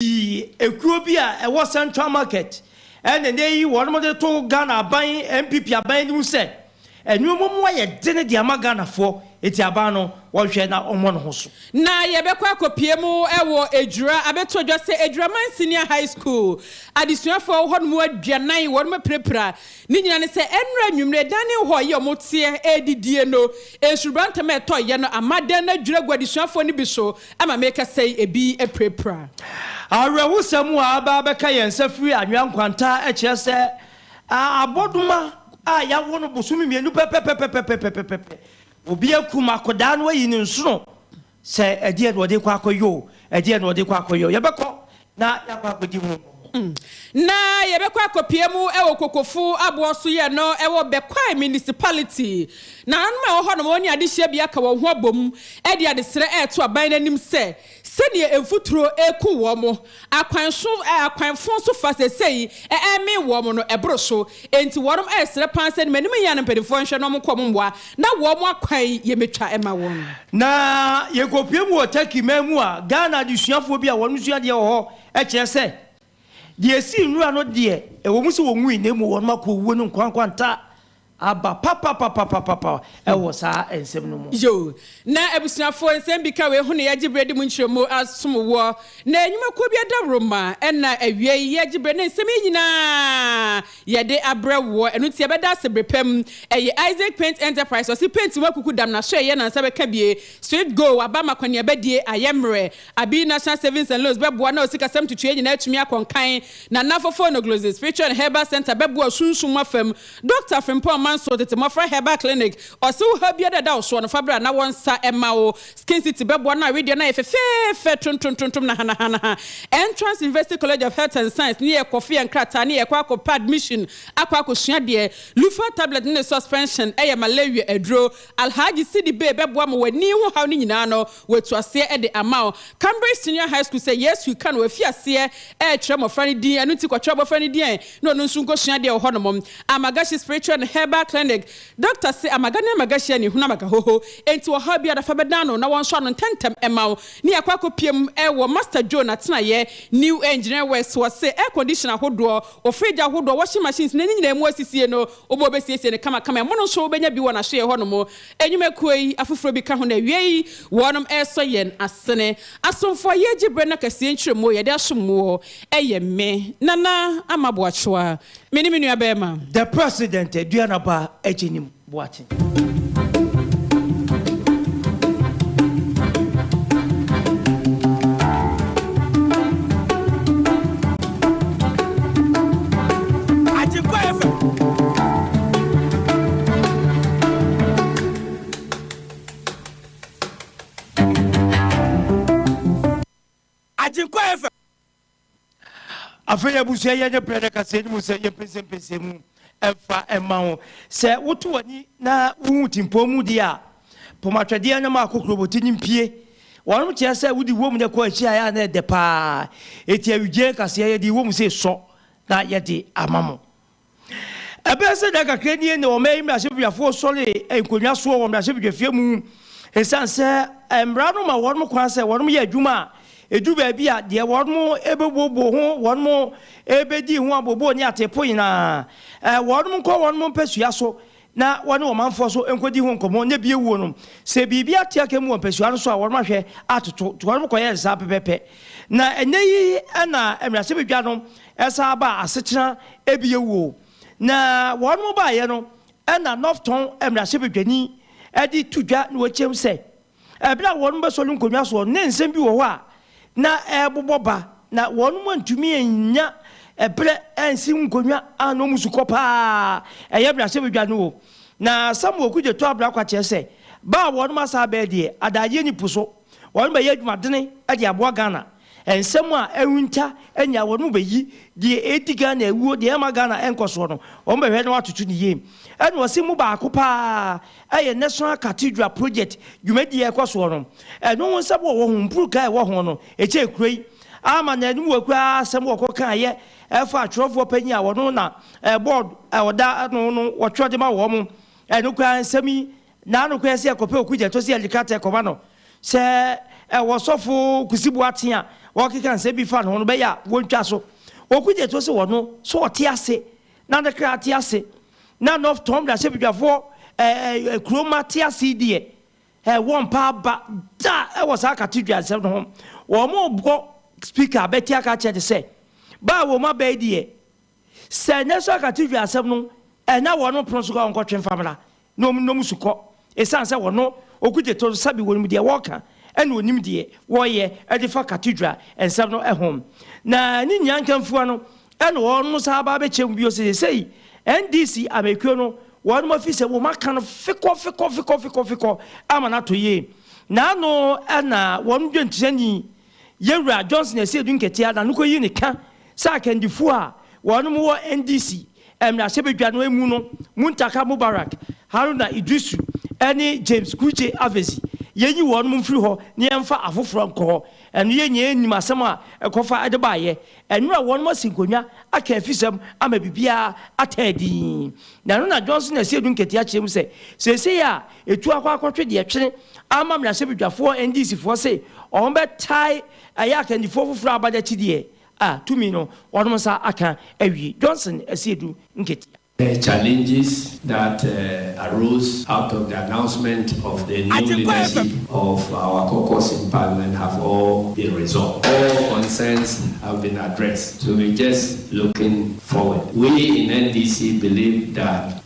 Ii, Kuro bi a ɛwɔ Central Market na ɛnnɛ yi wɔde to Ghana aban, NPP aban anim sɛ nnoɔma mu ayɛ dene de ama Ghanafoɔ nti aban no wɔnhwɛ na wɔmmɔ ne ho so. Na yɛbɛkɔ akɔpue mu wɔ Adwira abɛto dwa sɛ Adwira Mansenia High School adesuafoɔ a wɔwɔ hɔ nom aduanan wɔn apirapira Ne nyinaa ne sɛ ɛnnora anwummere, dan ne hɔ a ɛyɛ a wɔteɛ redidie no, nsurubaa ntɛm a ɛtɔ yɛ no ama dan no adwiri agu adesuafoɔ no bi so ama merekasa yi ebi apirapira. Awerɛhosɛm a aba abɛka yɛn nsa firi anwea nkwantaa kyerɛ sɛ abɔdoma a yɛawo no bosome mmienu pɛpɛpɛpɛpɛpɛpɛpɛpɛ, obi akum akwadaa no ayi ne nsono Sɛ ɛdeɛn na wɔde rekɔ akɔyɛ o, ɛdeɛn na wɔde rekɔ akɔyɛ o, yɛbɛkɔ na yɛakɔ akɔdi ho nkɔmmɔ. Na yɛbɛkɔ akɔpia mu wɔ Kokofo aboɔ so yɛ no wɔ Bekwai Municipality. Nananom a ɛwɔ hɔnom wɔne adehyɛbea ka wɔn ho abom de adesrɛ reto aban no anim sɛ sɛdeɛ mfuturo reku wɔn Akwan so a akwan fõ so fa sesei ɛɛ mee wɔn no ɛboro so, enti wɔnom ɛɛ srɛ paa sɛ m'anim yea no mpaninfoɔ nhwɛ na wɔn nkɔ wɔn mmoa na wɔn akwan yi yɛ mɛtwa ɛma wɔn. Na yɛ kɔ pue mu wɔ Turkey man mu a Ghana adesuafoɔ bi a wɔnom sua adeɛ wɔ hɔ ɛkyerɛ sɛ deɛ ɛsii nwura no deɛ ɛwɔ mu sɛ wɔn wui na mmom wɔnom akɔ owuo no nkwankwantaa Aba papapapapapa wɔ saa nsɛm no mu. Yoh. Na abusuafoɔ, nsɛm bi ka wei ho na yɛagye berɛ de mu nkyerɛmu asom woɔ. Na nnwumakuo biara dawuroma na awiei yɛgye berɛ na nsɛm yi nyina ara yɛde abrɛ woɔ. Ɛno nti yɛbɛda ase bere pa mu. Ɛyɛ Isaac Paint Enterprise, ɔse paint ho akuku dam na sɔeɛ na nsa bɛka bie. Sweet Go, waba ama kɔneabadie ayɛ mmerɛ. Abi National Savings and Loans bɛboa na osikasɛm ntutuiɛ nyina ara atumi akɔ nkan. Nana Fofo Onoglozzi Spiritual and Herbal Centre bɛboa osunsum mu afa mu Dɔkta Frimpong Mansour tete mmɔfra herbal clinic, Ɔse wo haw biara a ɛda wo soɔ no, fa bra na wɔnsa mma wo. Skin City bɛboa na wedeɛ no ayɛ fɛfɛɛfɛ tontontontom na hanahanaha. Entrance University College of Health and Science ne yɛ kɔfe yɛ nkrataa ne yɛkɔ akɔ pɛ admission akɔ akɔsua deɛ. Lufa Tablet ne ne suspension yɛ malaria aduro. Alhaji Sidi Bey bɛboa ma w'ani ho haw no nyinaa no. Watu aseɛ de ama wo Cambridge Senior High School sɛ Yesu ka no wafi aseɛ rekyerɛ mmɔfra no din, ɛno nti kɔkyerɛ abɔfra no din ɛ na ɔno nso nkɔsua adeɛ wɔ hɔnom. Amagashi Spiritual and Herbal Clinic, Dɔkta se amaga ne amagashi ani hunu amagahoho, enti ɔhaw biara fa bɛdan no na wɔnsɔ ano ntɛmntɛm mma wo ne akɔ akɔpie mu wɔ Master Joe n'atenaeɛ, New Engineer West, wɔse air condition ahodoɔ, wɔ fridge ahodoɔ, washing machines na ne nyinaa mu asisie no wobɛɔ bɛsiesie no kamakama, ɛmono nso wobɛnya bi wɔ n'ahyeɛ hɔnom. Nnwumakuo yi afoforɔ bi ka ho na awiei wɔnom resɔ yɛn asene. Asomfoɔ a yɛregye berɛ na kɛseɛ nkyerɛmuo yɛde asom woɔ yɛ me, Nana Ama Boakyewa, me ne me nua barima. The President Aduanaba Agyenim Boakye. afei abusua yɛ nyɛ brɛ no kasa anim sɛ yɛmpɛsɛmpɛsɛ mu ɛmfa ɛma wo sɛ woto w'ani na wohu timpɔn mu deɛ a Pom atwɛdeɛ na ma akokoroboti no mpue. Wɔnom kyerɛ sɛ wode wom na ɛkɔ akyi a ɛyɛ a na ɛdɛ pa ara. Enti awigyee nkaseɛ yɛde wom sɛ sɔ na yɛde ama mo. Ɛbɛyɛ sɛ da kakra nie na ɔman yi mmarahyɛbedwafoɔ sɔree nkonnwa soɔ wɔ mmarahyɛbedwafie mu ɛsiane sɛ mmara no ma wɔnom kwan sɛ wɔnom yɛ adwuma a ɛdu baabi a deɛ wɔnom ɛbɛbuobuo ho, wɔnom ɛbɛdi ho abooboo ne ateepo nyinaa wɔnom nkɔ wɔnom mpasua so na wɔne ɔmanfoɔ so nkɔdi ho nkɔmmɔ nyɛ bie wuo no, sɛ biribi ate aka mu wɔ mpasua no so a wɔnom ahwɛ atoto nti wɔnom kɔyɛ nsaa pɛpɛpɛ. Na ɛnyɛ yi na mmarahyɛ badwa no san baa asetena bie wuo. Na wɔnom baeɛ no na Northton mmarahyɛ badwani de to dwa na ɔkyɛm sɛ. Bere a wɔbɛsɔre nkonnwa so no, na nsɛm bi wɔ hɔ a na ɛrebobɔ ba, na wɔantumi annya bere ansi nkonnwa a na wɔn su kɔ paa a ɛyɛ mmarahyɛbadwa no wom. Na Samuel Kudze too abira kɔ akyerɛ sɛ, Ba a wɔn asan abɛyɛ deɛ, adagyeɛ nni po so. Wɔbɛyɛ adwumadene de aboa Ghana Nsɛm a ɛrenta nyaa wɔn mu bɛyi deɛ ɛredi Ghana awuo, deɛ ɛrema Ghana nkɔsoɔ no, wɔbɛhwɛ na wɔatoto ne yie. Ɛna ɔse mu baako pa ara yɛ National Cathedral Project dwumadie a ɛkɔ soɔ no. Ɛno ho nsɛm wɔ hɔ, mpuruka a ɛwɔ ho no, ɛkyɛɛ kuro yi. Ama no anim wɔ koraa asɛm wɔkɔ kaeɛ ɛfa atwerɛfoɔ panin a ɔno na board a ɔda ano no wɔtwerɛ de ma wɔn. Ɛno koraa nsɛm yi Na no koraa si a kɔpɛ oku gyɛto si agyikratɛ kɔma no sɛ ɛwɔ ɔsɔfo Kusi Boateng a wɔrekeka nsɛm bi fa ne ho no bɛyɛ a wɔntwa so. Oku gyɛto se ɔno so ɔte ase na ne kra te ase na North Tonn mmarahyɛbedwafoɔ ɛɛ kuro ma te ase deɛ ɛɛ wɔmpa aba da ɛwɔ saa katedwa nsɛm no ho. Wɔn rebɔ speaker abɛti aka akyerɛ ne sɛ baa wɔn aba yi deɛ Sɛ ɛnyɛ so a ka TV asɛm no ɛnya wɔn no pono so ka ɔnkɔtwe mfa mmra na ɔmu nnɔ mu su kɔ ɛsiane sɛ wɔno ɔgu gye to no sɛbe wɔnim deɛ wɔka ɛna ɔnim deɛ wɔyɛ ɛde fa Cathedral nsɛm no ɛho na ne nyinaa nkamfua no ɛna wɔn no saa ba bɛkyɛ mu bio sɛ sesei NDC amɛkuo no wɔnom afi sɛ wɔm aka no fekɔ fekɔ fekɔ fekɔ fekɔ ama no ato yie na ano ɛna wɔn dwenkyerɛni Yɛn Wura Johnson Asiedu Nketeaa na no kɔ yi ne ka sɛ akandifoɔ a wɔnom wɔ NDC mmarahyɛ badwa no mu no Muntaka Mubarak, Haruna Iddrisu ne James Kudje Avezi yɛn nyi wɔnom mfiri hɔ na yɛn mfa afoforɔ nkɔ hɔ. Ɛno yɛn nyinaa nim asɛm a ɛkɔfa de baeɛ. Ɛnora wɔnom asi nkonnwa aka afisɛm ama biribiara ataa dinn. Na ɛno na Johnson Asiedu Nketeaa kyerɛ mu sɛ seesei a Etu akɔ akɔtwe deɛ ɛtwene ama mmarahyɛbedwafoɔ NDC foɔ se wɔn bɛ tae ɛyɛ akandifoɔ foforɔ aba de akyideɛ a tumi no wɔnom nsa aka awie. Johnson Asiedu Nketia. Challenges that arose out of the announcement of the new leadership of our caucus in parliament have all been resolved. All concerns have been addressed so we just looking forward. We in NDC believe that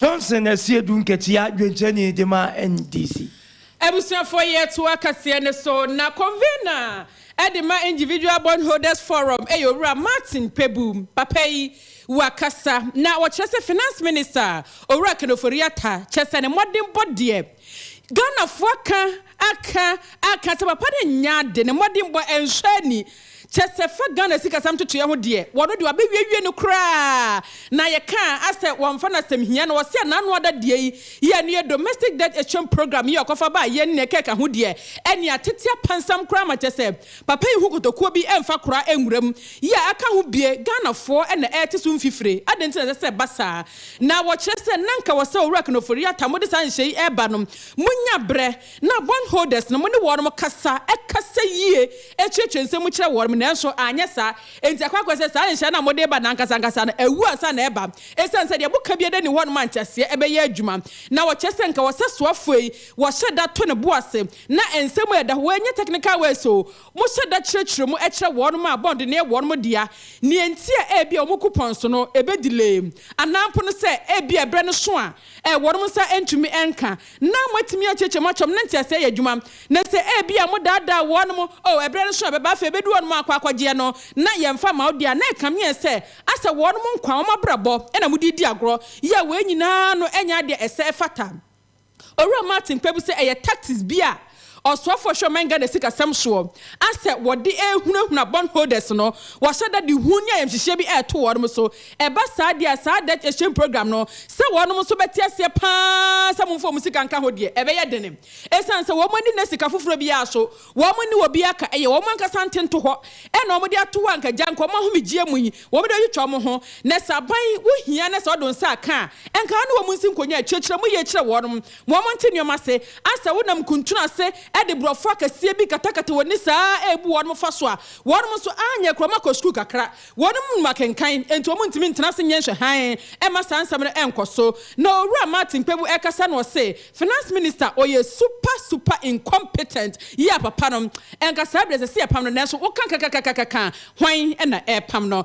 Johnson asie du nkatia dwenkyɛni de ma NDC. Abusuafoɔ yɛ toa kaseɛ no so na convener de ma Individual Bondholders Forum yɛ Owura Martin Pebu. Papa yi wa kasa na wɔkyerɛ sɛ Finance Minister Owura Ken Ofori Atta kyɛ sɛ ne mmɔdenbɔ deɛ Ghanafoɔ aka aka aka sɛ papa no nnya ade ne mmɔdenbɔ nhwɛ ani Kyɛ sɛ fa Ghana sikasɛm totoeɛ ho deɛ, wɔno deɛ wɔabɛwiewie no koraa. Na yɛka a, asɛ wɔmfa no asɛm hia no. Wɔse a n'ano ada deɛ yi, yi a ɛno yɛ Domestic Debt Exchange Programme yi a ɔkɔfa baa yɛn nea ɛkeka ho deɛ, ɛnneɛ atete apansam koraa ma kyɛ sɛ papa yi ho kotokuo bi mfa koraa nwura mu. Yi a aka ho bie, Ghanafoɔ na ɛrete so mfifire. Adɛn nti na ɛsɛ sɛ ɛba saa? Na wɔkyerɛ sɛ na nka wɔ sɛ Owura Knorr-Ofori-Atta mode saa nhyɛ yi reba no, monya berɛ, Ná bondholders no ne wɔn kasa kasa yie, kyerɛkyerɛ nsɛm mu kyerɛ wɔn, nanso anyɛ saa. Enti ɛkɔ akɔyɛ sɛ saa nhyira no a mode reba no ankasankasa no, awu ansa na ɛreba. Esiane sɛ deɛ moka biara nni hɔ no maa nteaseɛ bɛyɛɛ adwuma. Ná wɔkyerɛ sɛ anka ɔsɛsoafoɔ yi, wɔhyɛ da to ne bo ase. Ná nsɛm a ɛda hɔ, wɔnyɛ technical words oo, mohyɛ da kyerɛkyerɛ mu kyerɛ wɔn a bond no yɛ wɔn dea, nea enti a ebia wɔn coupons no ɛbɛdelay, anaa mpo no sɛ ebia ɛberɛ no sõ a wɔn nsa ntumi nka. Ná moatumi akyerɛkyerɛ mo akyɛm no ntease ayɛ adwuma, na sɛ ebia modaadaa wɔnom, oh, ɛberɛ no so na ɛbɛba, afei ɛbɛduru wɔnom akɔ akɔgyeɛ no, na yɛmfa mma wo deɛ a, na ɛkame yɛn sɛ asɛ wɔnom nkwa, wɔn abrabɔ, na mode redi agorɔ. Yea, wei nyinaa no nyɛ adeɛ a ɛsɛ ɛfata. Owura Martin kpɛbu sɛ ɛyɛ tactics bi a. Ɔsoafoɔ hwɛ ɔman Ghana sikasɛm soɔ a sɛ wɔde rehunahuna bond holders no, wɔahyɛ da de hu ne ayamhyehyeɛ bi reto wɔnom so. Ɛba saa deɛ a, saa debt exchange programme no, sɛ wɔnom nso bɛte aseɛ pa ara sɛ momfa wɔn sika nka ho deɛ, ɛbɛyɛ dene. Ɛsiane sɛ wɔn ani nna sika foforɔ biara so, wɔn nni wɔ biara ka, ɛyɛ wɔn ankasa ntentohɔ na wɔde ato hɔ a anka gya nka wɔn ahomegyeɛ mu yi, wɔde atwitwa wɔn ho. Na sɛ aban wo hia na sɛ ɔde wo nsa aka a, anka wo ne wɔn nsi nkɔnya, kyerɛkyerɛ mu yie kyerɛ wɔnom. Moa mo nte nneɛma ase. A Sɛ wonam nkuntunu ase de borɔfo akɛseɛ bi katakata wɔn ani saa ara rebu wɔnom fa so a, wɔnom nso anyɛ koraa, wɔakɔ sukuu kakra. Wɔnom nim akenkan, enti wɔntumi ntena ase nyɛ nhwɛhan mma saa nsɛm no nkɔ so. Na Owura Martin Kpebu rekasa na ɔse, Finance Minister, ɔyɛ super, super incompetent. Yea, papa no. Nka saa bere a ɛsɛ sɛ yɛpam no, nanso woka kakakakaka a, hwan na ɛrepam no?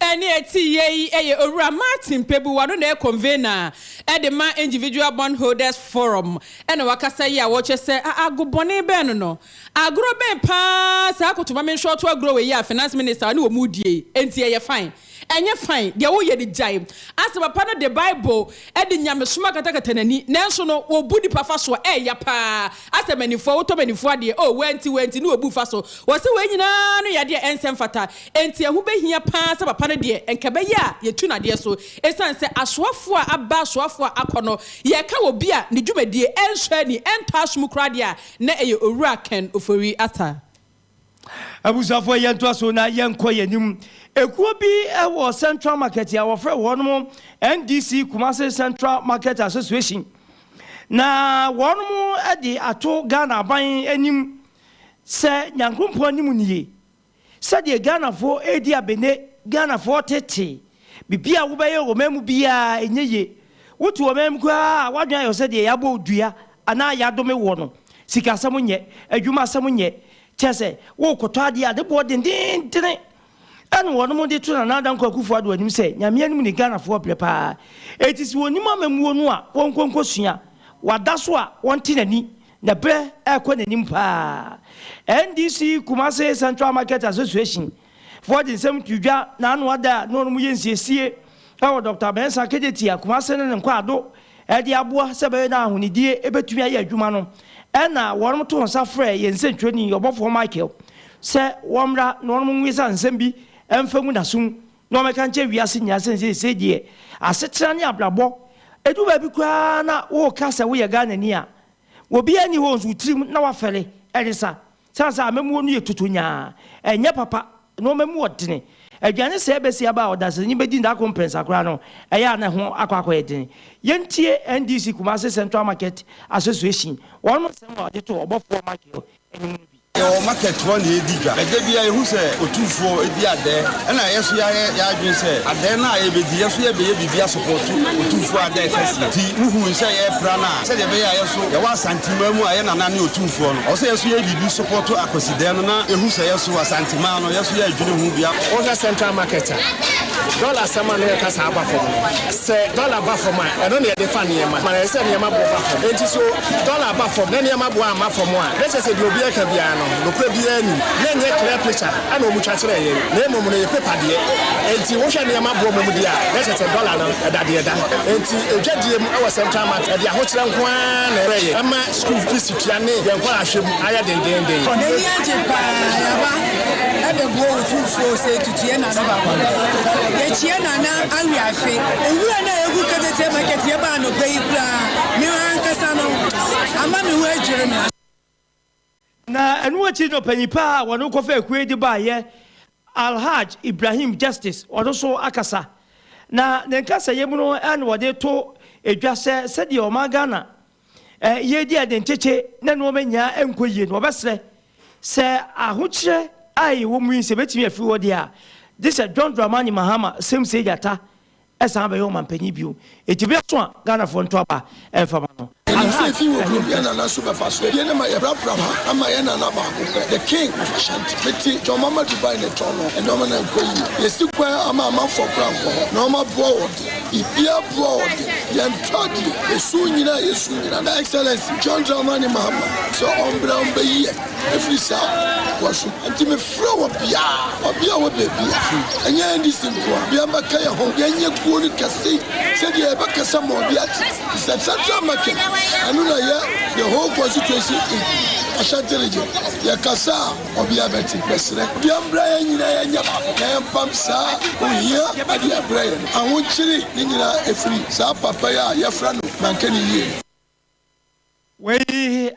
A Nea ɛte yɛ yi yɛ Owura Martin Pebu, ɔno na ɛyɛ convener de ma Individual Bondholders Forum na wakasa yi a ɔkyerɛ sɛ a ago bɔne bɛn no no. Agorɔ bɛn pa ara saa koto ma menhwɛ ɔto agorɔ wei yi a Finance Minister ɔne wɔn redie yi, enti ɛyɛ fine? Ɛnyɛ fine, deɛ woyɛ no gyae. Asɛ papa no de Bible de nyamesom akatakata n'ani, nanso no, wɔbu nipa fa soɔ, ɛyɛ ya pa ara. Asɛmanifoɔ, wotɔ manifoɔ adeɛ, oh, wei nti, wei nti, ne wɔbu fa so. Wɔse wei nyinaa no yɛ adeɛ a ɛnsɛ mfata. Enti ɛho bɛhia pa ara sɛ papa no deɛ, nka ɛbɛyɛ a yɛtu no adeɛ so. Esiane sɛ asoafoɔ a aba asoafoɔ a akɔ no, yɛka obi a ne dwumadie ɛnsɔ ani, ɛntɔ asom koraa deɛ a, na ɛyɛ Owura Ken Ofori-Atta. Abusuafoɔ yɛntoa so na yɛnkɔ yɛn anim. Ekuo bi wɔ Central Market a wɔfrɛ wɔn NDC Kumasi Central Market Association. Na wɔn de ato Ghana aban anim sɛ Nyankoropɔn anim nie. Sɛdeɛ Ghanafoɔ redi abene, Ghanafoɔ tetee, Biribi a wobɛyɛ wɔ ɔman mu biara a ɛnyɛ yie. Wote ɔman mu koraa a, w'adwene ayɛ wo sɛ deɛ yɛabɔ wo dua anaa yɛadome woɔ no. Sikasɛm nyɛ, adwuma asɛm nyɛ. Kyerɛ sɛ, worekɔtɔ adeɛ a, ne boɔ dendeendene. Ɛna wɔnom de to Nana Addo Dankwa Akufo Addo anim sɛ, Nyame anim ne Ghanafoɔ brɛ pa ara. Enti sɛ wɔnim amammuo no a, wɔnkɔ nkɔsua. Wada so a, wɔnte n'ani. Na berɛ rekɔ n'anim pa ara. NDC Kumasi Central Market Association. Forge nsɛm to dwa na ano ada a na wɔnom yɛ nsiesie wɔ Dɔkta Mensah Kejetia, Kumase ne ne nkwaado de aboa sɛ ɛbɛyɛ na ahonidie bɛtumi ayɛ adwuma no. Ɛna wɔnom too nsa frɛɛ yɛn nsɛntwerɛni ɔbɔfoɔ Michael sɛ wɔmmra na wɔnom nwesa nsɛm bi mfa ngu n'asom na wɔmmɛka nkyerɛ wiase nyinaa sɛ nseesei deɛ asetena ne abrabɔ ɛdu baabi koraa na woreka sɛ woyɛ Ghanani a obiara nni hɔ nso wo tirim na woafɛre ɛresa. Sane sɛ amammuo no yɛ tutunyaa, ɛnyɛ papa, na wɔn mu wɔ dene. Aduane sɛɛ bɛsi aba a ɔdanseni bɛdi nna koro mprɛnsa koraa no, ɛyɛ a na ɛho akɔ akɔyɛ dene. Yɛntie NDC Kumasi Central Market Association wɔn nsɛm a wɔde too ɔbɔfoɔ Michael anim no bi. Yɛwɔ market hɔ na yɛdi dwa. Ɛda biara yɛhu sɛ otumfoɔ di adɛɛ, ɛna yɛ nso yɛayɛ yɛn adwene sɛ adɛɛ no a yɛbɛdi yɛ nso yɛbɛyɛ biribi asɔpɔɔto otumfoɔ adɛɛ kɛseɛ. Nti wohui sɛ yɛrepra no a sɛdeɛ ɛbɛyɛ a yɛ nso. Yɛwɔ Asanteman mu a yɛ Nana ne Otumfoɔ no. Ɔwɔ sɛ yɛ nso yɛ biribi sopɔto Akwasidɛɛ no na yɛhu sɛ yɛ nso Asanteman no yɛ nso yɛ adwene ho bia. Wohwɛ Central Market a, dɔla asɛm a na yɛka saa aba fam no. Sɛ dɔla ba fam a, ɛno na yɛde fa nneɛma ma no ayɛ sɛ nneɛma bo ba fam. Enti so dɔla aba fam na nneɛma bo amma fam a, na ɛkyerɛ sɛ deɛ obiara reka biara no, nokorɛ biara nni mu. Na ɛnyɛ clear picture na wɔtwa kyerɛɛ yɛn, na mmom no, ɛyɛ paper deɛ. Enti wohwɛ nneɛma bo a wɔde a, na ɛkyerɛ sɛ dɔla no, ɛda deɛ ɛda. Ti adwadie mu wɔ Central Mark, ɛde ahokyerɛ nko ara na ɛreyɛ. Ɛma sukuu fees tua ne yɛn nkwadaa hwɛ mu ayɛ dendeenden. N'ani agye pa ara. Yɛaba abɛboa Otumfoɔ sɛ tutuiɛ Nana Baguam. Yɛkyia Nana awe afe. Nwura no a ɛgu Keteteɛ Market, yɛba anɔpa yi koraa, me ankasa no, ama me ho adwiri me. Na ɛno akyi no panyin pa a wɔde no kɔfa akuo yi de baeɛ Alhaj Ibrahim Justice ɔno nso akasa na ne nkasayɛ mu no na ɔde to edwa sɛ sɛdeɛ ɔman Ghana yɛredi adenkyekye na nnoɔma nyinaa nkɔ yie no ɔbɛsrɛ sɛ ahokyerɛ a ɛwɔ mu yi sɛ ɛbɛtumi afiri hɔ deɛ a gye sɛ John Dramani Mahama Sɛm Sei Gyata ɛsan abɛyɛ ɔmanpanyin bio. Enti bere aso a Ghanafoɔ nto aba mfa ma no. Alhaj Ibrahim Dantɛ. Frɛ obiara, ɔbea a ɔwɔ baabi a ɛnyɛ NDC nko ara bia mmɛka yɛn ho. Yɛnyɛ kuo no kɛse sɛdeɛ yɛbɛkasa ma obi ate. It's a central market. Ɛno na ɛyɛ the whole constituency in Ashanti region. Yɛkasa a, ɔbea bɛte. Mɛsrɛ obiara mmra yɛn nyinaa yɛnyɛ baako na yɛmpam saa ohia adeɛ mbrɛ yɛn. Ahokyere ne nyinaa ɛfiri saa papa yi a yɛfrɛ no Mankani Yie no. Wei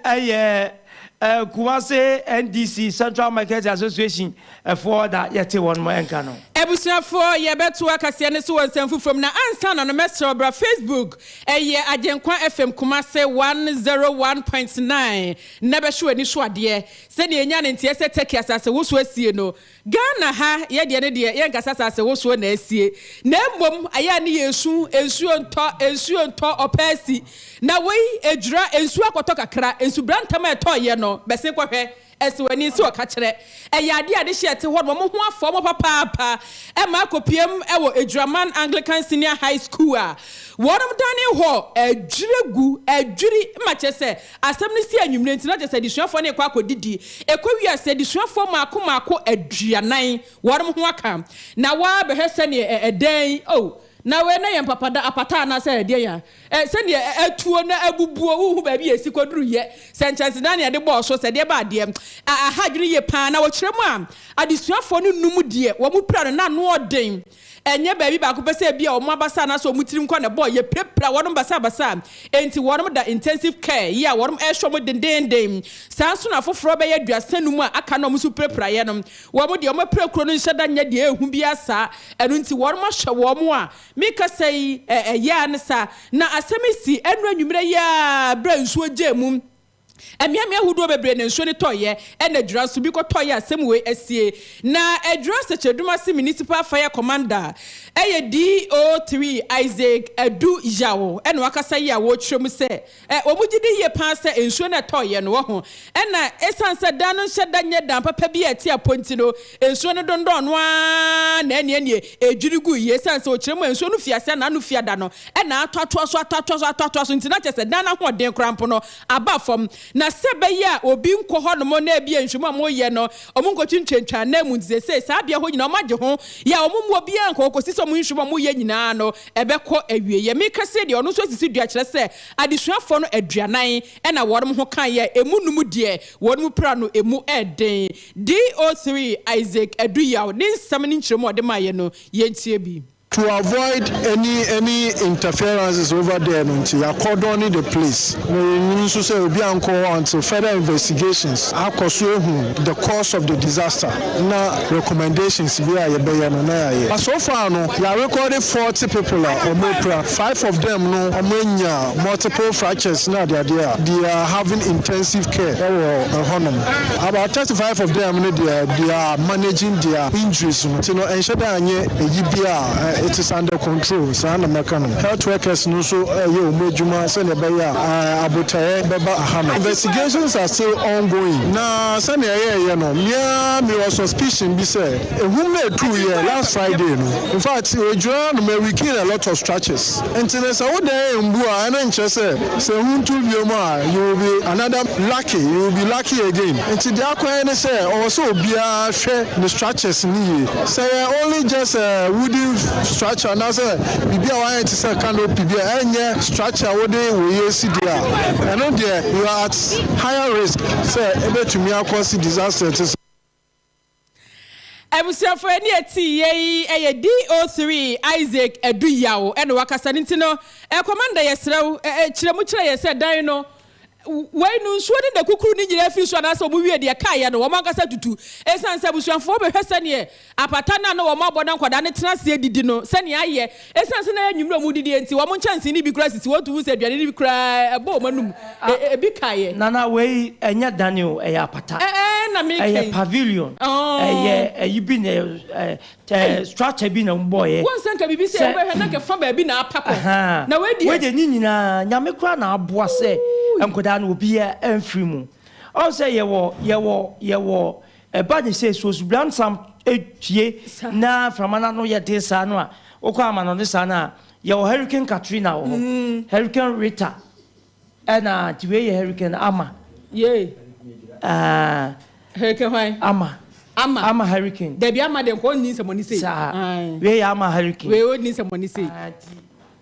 yɛ Kumasi NDC, Central Market Association, foɔ da yɛte wɔn nka no. Abusuafoɔ yɛbɛtoa kaseɛ no so wɔ nsɛm foforɔ mu na ansa na no mɛsrɛ wo bra Facebook ɛyɛ Agyenkwa FM Kumase 101.9 na bɛhwe w'ani so adeɛ sɛdeɛ ɛnya ne nteɛ sɛ Turkey asasewosoɔ asie no Ghana ha yɛ deɛ no deɛ yɛ nkasa saa sɛ wosoɔ na asie na mmom ayɛ a ne yɛ su nsuo ntɔ nsuo ntɔ ɔpɛ asi na wei ɛdwira nsuo akɔtɔ kakra nsubura ntɛm a ɛtɔ yɛ no bɛse kɔhwɛ ɛsi w'ani nsi ɔka kyerɛ ɛyɛ adeɛ a ne hyɛ ɛte hɔ nom wɔn ho afɔ wɔn papaapa ɛma akɔpiam ɛwɔ Adwiraman Anglican Senior High School a wɔnom dane hɔ adwiri gu adwiri ma kyɛ sɛ Asɛm no sii anwummere nti, na kyerɛ sɛ adesuafoɔ no rekɔ akɔdidi. Ɛkɔwiee a, sɛ adesuafoɔ mmaako mmaako aduanan, wɔnom ho aka. Na woaa bɛhwɛ sɛdeɛ ɛ, ɛdan yi, oh, na wei na yɛ mpapada, apata anaasɛ ɛdeɛn a, ɛ, sɛdeɛ ɛ, atuo na abubuo, wonhu baabi a ɛsi kɔduruiɛ, sɛ nkyɛnsedan na yɛde bɔɔ so, sɛ deɛ ɛbaa deɛ, a, aha adwene yie pa ara. Na wɔkyerɛ mu a, adesuafoɔ no nnum deɛ wɔpira no, na ano yɛ den. Ɛnyɛ baabi baako pɛ sɛ ebia wɔn abasa anaasɛ wɔn tirim nkwa na ɛbɔɔ yɛ pirapira wɔn basabasa. Enti wɔda intensive care yi a wɔrehwɛ wɔn dendeenden. Saa nso na afoforo bɛyɛ aduasa num a aka no a wɔn nso pirapira yɛ no. Wɔn deɛ wɔn apirakuro no nhyɛ da nyɛ deɛ ɛyɛ hu biara saa. Ɛno nti wɔahwɛ wɔn a merekasa yi ɛyɛ ara ne saa. Na asɛm yi sii ɛnnora anwummerɛ yi ara berɛ a nsuo gyee mu. Mmeammea ahodoɔ bebree na nsuo no tɔeɛ ɛna adwira nso bi kɔtɔeɛ a asɛm wei asie. Na Adwira Nsɛkyerɛdum ase Municipal Fire Commander ɛyɛ DO three Isaac Adu Yaw ɛna wakasa yi a wɔkyerɛ mu sɛ wɔn gye di yie paa sɛ nsuo no a ɛtɔeɛ no wɔho ɛna ɛsiane sɛ dan no nhyɛ da nyɛ dan papa bi a ɛte apɔ nti no Nsuo no dondɔɔ no ara na ɛnneɛnneɛ ɛdwiri guiɛ. Ɛsiane sɛ ɔkyerɛ mu a nsuo no firi aseɛ a n'ano fi ada no na atoatoa so, atoatoa so, atoatoa so nti, na kyerɛ sɛ dan no ahoɔden koraa mpo no aba fam. Na sɛ ɛbɛyɛ a obi nkɔ hɔnom na ebia nhwehwɛmu a wɔreyɛ no wɔnkɔtwentwentwa ananmu nti, seesei saa beaɛ hɔ nyinaa wɔagye ho yɛ a wɔmmu obiara nkɔ hɔ kɔsi sɛ wɔn nhwehwɛmu a wɔreyɛ nyinaa no ɛbɛkɔ awieɛ. Meka sei deɛ, ɔno nso asisi dua kyerɛ sɛ adesuafoɔ no aduanan na wɔnom ho kaeɛ a ɛmu nnum deɛ wɔnom pira no ɛmu ɛden. DO3 Isaac Aduyaw ne nsɛm ne nkyerɛmu a ɔde maeɛ no, yɛntie bi. To avoid any any interferences over there no nti yɛ cordone the place na yɛnwunu nso sɛ obi ankɔ hɔ until further investigations akɔ so ahu the cause of the disaster na recommendations bi a yɛbɛyɛ no na yɛayɛ. But so far no yɛ arekɔɔde forty people a wɔapira, five of them no wɔanya multiple fractures ne adeadeɛ a they are having intensive care wɔ hɔnom. About thirty five of them no deɛ they are managing their injuries no ti no ɛnhyɛ dɛ anyɛ eyi bi a it is under control saa na mɛka no health workers no nso ɛyɛ wɔn adwuma sɛnea ɛbɛyɛ a abotaeɛ bɛba aha no investigations are still ongoing na sɛnea ɛyɛɛyɛ no me ara me wɔ suspicion bi sɛ ehum no etuuyɛ last Friday no in fact ɛdwira no ma we gain a lot of structures. Nti no sɛ wo dan mbu a ɛno nkyerɛ sɛ sɛ ehu ntu bio mu a you will be another lucky you will be lucky again nti deɛ akɔ yɛ ne sɛ ɔwɔ sɛ obiara hwɛ ne structures no yie sɛ yɛ only just a wooden structure anaasɛ biribi a wayɛ te sɛ canopy bi a ɛnyɛ structure a wode wei asi deɛ a ɛno deɛ you are at higher risk sɛ ɛbɛtumi akɔ si disaster te sɛ Abusuafo ɛne ɛte yei ɛyɛ DO3 Isaac Aduyaw ɛna wakasa ne nti no eh, Commander yɛsrɛ wo eh, eh, kyerɛ mu kyerɛ yɛ sɛ dan no wei no nsuo ne nakukuru ne nyinaa firi so anaasɛ wɔn wie deɛ kaeɛ no wɔn ankasa tutu ɛsiane sɛ abusuafoɔ bɛhwɛ sɛneɛ apata no a na wɔn abɔ na nkwadaa no tena aseɛ didi no sɛneɛ ayɛ Esiane sɛ na ɛyɛ anwummere a wɔdidie nti, wɔn nkyɛnsee no bi koraa sisi hɔ nti wohu sɛ aduane no bi koraa bɔ wɔn anom. Ebi kaeɛ. Nana, wei ɛnyɛ dan o, ɛyɛ apata. Ɛɛ na meka yi. Ɛyɛ pavilion. Ɛyɛ ɛyi bi na ɛɛ structure bi na wɔbɔeɛ. Wohu sɛ nka biribi sɛ wobɛhwɛ na nka fa baabi na apa kɔ. Na wei deɛ. Wei deɛ ne nyinaa Nyame koraa na aboa sɛ nkwadaa no obiara amfiri mu. Ɔhu sɛ yɛwɔ yɛwɔ yɛwɔ Ɛba de sɛ sɛ osubransam pue na mframa no ano yɛ den saa no a, wokɔ amannɔne saa no a, yɛwɔ Hurricane Katrina wɔ hɔ, mm-hmm. Hurricane Rita, ɛna nti wei yɛ Hurricane Ama. Yee. Ah. Hurricane hwan? Ama. Ama. Ama hurricane. Dabi ama de nkɔ nni nsɛmɔni sei. Saa. Wei yɛ ama hurricane. Wei ɔnni nsɛmɔni sei. Ah,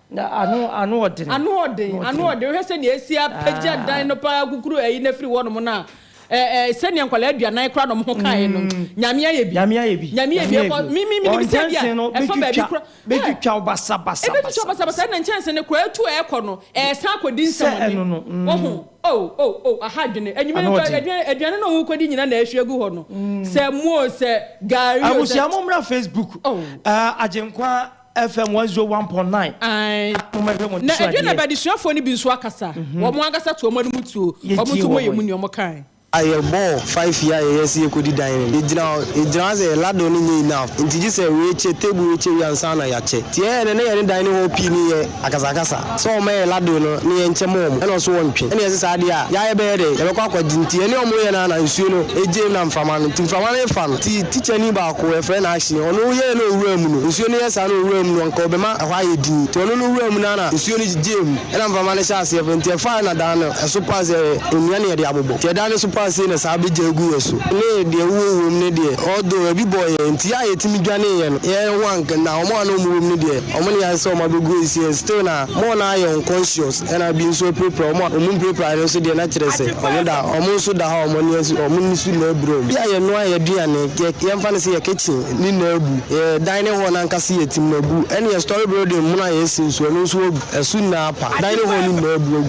Na ano ano ɔden. Ano ɔden, ano ɔden. Wohwɛ sɛnea esi apagya dan no paa kukuru ayi no afiri hɔnom no a, ɛ ɛ sɛnea nkwadaa aduanan koraa na wɔn ho kae no. Nyame ayɛ bi. Nyame ayɛ bi. Nyame ayɛ bi. Ɛkɔ mi mi mi nim sɛ bi a ɛfa baabi kora. Bɛtwitwa wo basa basa. Ɛbɛtwitwa basa basa ɛna nkyɛnse no koraa atu a ɛkɔ no ɛsan akɔdi nsɛmɔne. Wohu? Oh oh oh aha adwene. Anwuma yi koraa aduane aduane na wɔkɔdi nyinaa na ɛhwie gu hɔ no. Sɛ mo o sɛ gari o sɛ. Abusua mo mmra Facebook. Oh. Agyenkwa. FM one zero one point nine. Ae. Na ɛdwe na bɛadesuafoɔ no bi nso akasa. Wɔn ankasa to wɔn anom tuo. Wɔn nso wɔyɛ mu nea wɔkae. A Yɛbɔɔ five yɛ a yɛyɛ sɛ yɛkɔdi dan no, yɛgyina hɔ, yɛgyina hɔ sɛ yɛn ladle no nyɛ enough nti gye sɛ rekyɛ, table rekyɛ wie ansa na yɛakyɛ. Nti yɛyɛɛ no na yɛne dining hall pii no yɛ akasakasa. Sɛ wɔn yɛ ladoo no ne yɛn nkyɛm wɔn na ɔso wɔn twe. Ɛne ɛse saa deɛ a ya yɛ bɛyɛ dɛn yɛbɛkɔ akɔ gye nti yɛne wɔn yɛ no ara na nsuo no gye mu na mframa no nti mframa no refa no nti teacher ni baako yɛfrɛ no Ashe ɔno yɛɛ no owura mu no nsuo no yɛ saa no owura mu no anka ɔbɛma ɛhɔ ayɛ dinn nti ɔno no wura mu no ara na nsuo no gyegyee mu ɛna mframa no hyɛɛ aseɛ fa nti ɛfaɛ na dan no ɛso paa sɛ nnua na yɛde abobɔ nti ɛdan no so paa sei na saa bɛgya agu yɛn so ne deɛ ɛwowɔ wɔ mu no deɛ although ɛbi bɔɔ yɛn nti ya a yɛtumi dwaneeɛ no yɛn ho anka na wɔn a na wɔn wɔ mu no deɛ. Ɔmo ne yɛayɛ sɛ ɔmo abegu asie and still na more no ara yɛ unconscious ɛna bi nso apirapira ɔmo a ɔmo mpirapirae no nso deɛ na kyerɛ sɛ ɔmo da ɔmo nso da hɔ a ɔmo ani asi ɔmo ani so na abira ɔmo. Bi a yɛnoa yɛn aduane, yɛ yɛmfa no sɛ yɛ kitchen ne na abu, yɛ dining hall no ankasa yɛ tim na abu ɛne yɛ storey building mono a yɛasi nso ɛno nso abu ɛso nyinaa apa dining hall no nyinaa abu agu.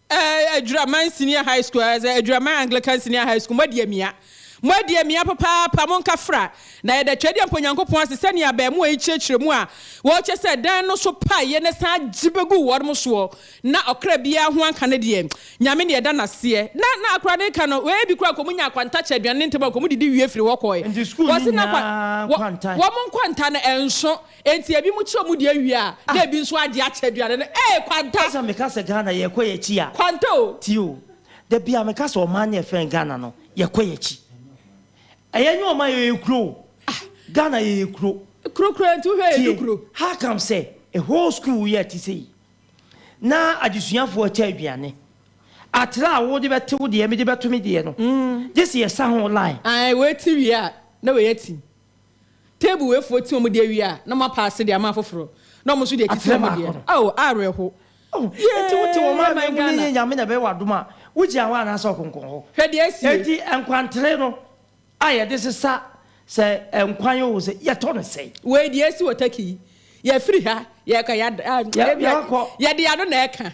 Eh, Adwiraman Senior High School, eh, sɛ Adwiraman Anglican Senior High School, moadi amia. Moadi amia papaapa, monka fra. Na yɛda Twɛdeɛ Mpo Nyankopɔn ase sɛnea abaamua yi kyerɛkyerɛ mu a wɔkyɛ sɛ dan no so paeɛ na ɛsan agye bɛguu wɔnom soɔ, na ɔkra biara ho anka no deɛ, Nyame na yɛda no aseɛ. Na, na akora no reka no, wei bi koraa kɔmu nya akwanta kyɛ aduane no ntɛm a kɔmu didi wie firi hɔ kɔɔɛ. Nti sukuu no nyinaa kwanta? Wɔ, wɔn nkwanta no ɛnso. Enti ebinom kyerɛ wɔn deɛ wie a, na ebi nso agye akyɛ aduane no. Ee, kwanta! Sɛ meka sɛ Ghana, yɛrekɔ yɛn akyi a. Kwanta o! Tie o, da biara meka sɛ ɔman no a yɛfrɛ no Ghana no, yɛkɔ yɛn akyi. Ɛyɛ nyɛ ɔman, yɛyɛ kuro o. Ghana, yɛyɛ kuro. Kuro koraa nti wohwɛ a yɛdu kuro. Tie, how come sɛ a whole school yɛ te sei, na adesuafoɔ akyɛ aduane, atra a wode bɛte wo deɛ, mede bɛto me deɛ no, gye sɛ yɛsa ho line. Ae, wei te wie a, na wei ati. Table wei foɔ ti wɔn deɛ wie a na wɔn apaase deɛ ama afoforɔ na wɔn nso deɛ titi wɔn deɛ ao awerɛho Enti wo te wo maa me mu no yie nyame na ɛbɛyɛ w'adom a wo gyina hɔ anaasɛ ɔkonko hɔ Hwɛ deɛ asi ei. Enti nkwantere no a yɛde sesa sɛ nkwan oo sɛ yɛtɔ no sɛn? Wei deɛ asi wɔ Turkey yi yɛfiri ha yɛka yɛde ano na ɛka.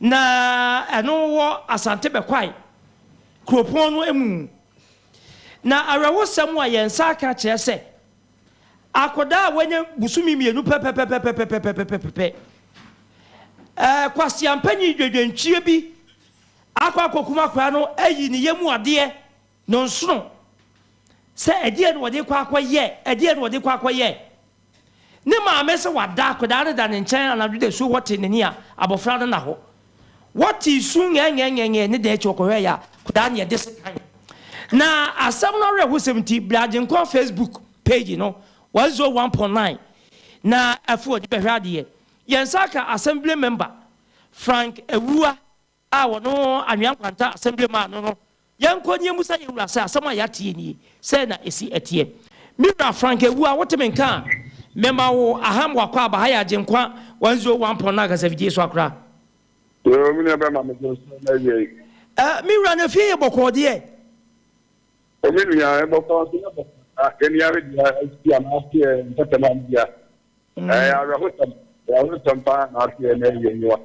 Na ɛno wɔ Asante Bɛkwae kuropɔn no mu. Na awerɛhosɛm a yɛn nsa aka kyerɛ sɛ akwadaa a wanya bosome mmienu pɛpɛpɛpɛpɛpɛpɛpɛpɛpɛ, ɛɛ kwaseampanyin dwadwantwie bi akɔ akɔkum akwadaa no ayi ne yam adeɛ. Nnɔnsono sɛ ɛdeɛn na ɔde rekɔ akɔyɛ? Ɛdeɛn na ɔde rekɔ akɔyɛ? Ne maame sɛ wada, akwadaa no da ne nkyɛn anadwo dasuo hɔ tee n'ani a, abɔfra no nna hɔ. Wɔtee su ngɛngɛngɛngɛ ne dɛn akyi, wɔkɔhwɛeɛ a, akwadaa no yɛ de sekan. Na asɛm no awerɛhosɛm nti, Bra Agyenkwa Facebook page no, 101.9, na afei ɔde bɛhwɛ adeɛ. Yɛn nsa aka asɛm bire member Frank Awuah a wɔno anwea nkwanta asɛm bi maa no no, yɛnkɔ ne yɛmmisa yɛn wura sɛ asɛm a yɛate yi nie, sɛn na ɛsi ɛteɛ. Me wura Frank Awuah, wote me nka a, mema wo Aham W'akwaaba ha yɛ Agyenkwa 101 pɔn no ankasa fidie so akora. Yoo, me nua bɛma me so so na wiei. Eh, me wura na fie yɛ bɔkɔɔ deɛ. O me nua, ɛbɔkɔɔ nso yɛ bɔkɔɔ saa, yɛn yare deɛ, asi anaa aseɛ ntɛtɛm a me wura. Ɛyɛ awerɛhosɛm, awerɛhosɛm pa ara na aseɛ na ɛyɛ mu a.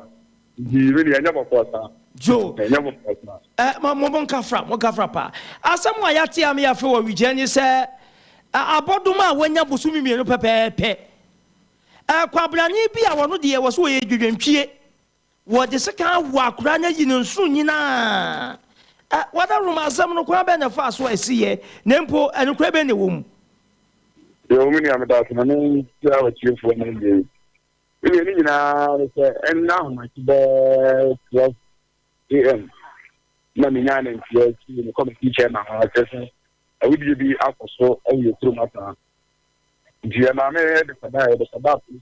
Nti me deɛ ɛnyɛ bɔkɔɔ saa. Joe, Ɛnyɛ bɔkɔɔ saa. ɛ, mo, mo, mo nka fra, mo nka fra paa. Asɛm a yɛate a me yɛafe wɔ Wigyɛ ne sɛ, ɛ, abɔdoma a wanya bosome mmienu pɛpɛɛpɛ. Ɛ, kwabrane bi a ɔno deɛ wɔ so ɔyɛ dwadwantwie. Wɔde sekan awoo akora no ayi ne nsono nyinaa. Ɛ, wɔda Roma asɛm no kwan bɛn na ɛfaa so a esi yɛ, na mpo ɛnokorɛ bɛn na ɛwɔ mu? Yoo, me nua, meda wo ase ma mekyerɛ w'atiefoɔ no adeɛ yi. Ebia ne nyinaa ne sɛ, ɛnnɛ ahomakye bɛɛ 12 AM na menyaa nanteɛ fii me committee chairman hɔ kyerɛ sɛ awudie bi akɔ so wɔ yɛn kurom asaa. Nti ɛmaa me de kɔdaeɛ, de kɔdaa polisi.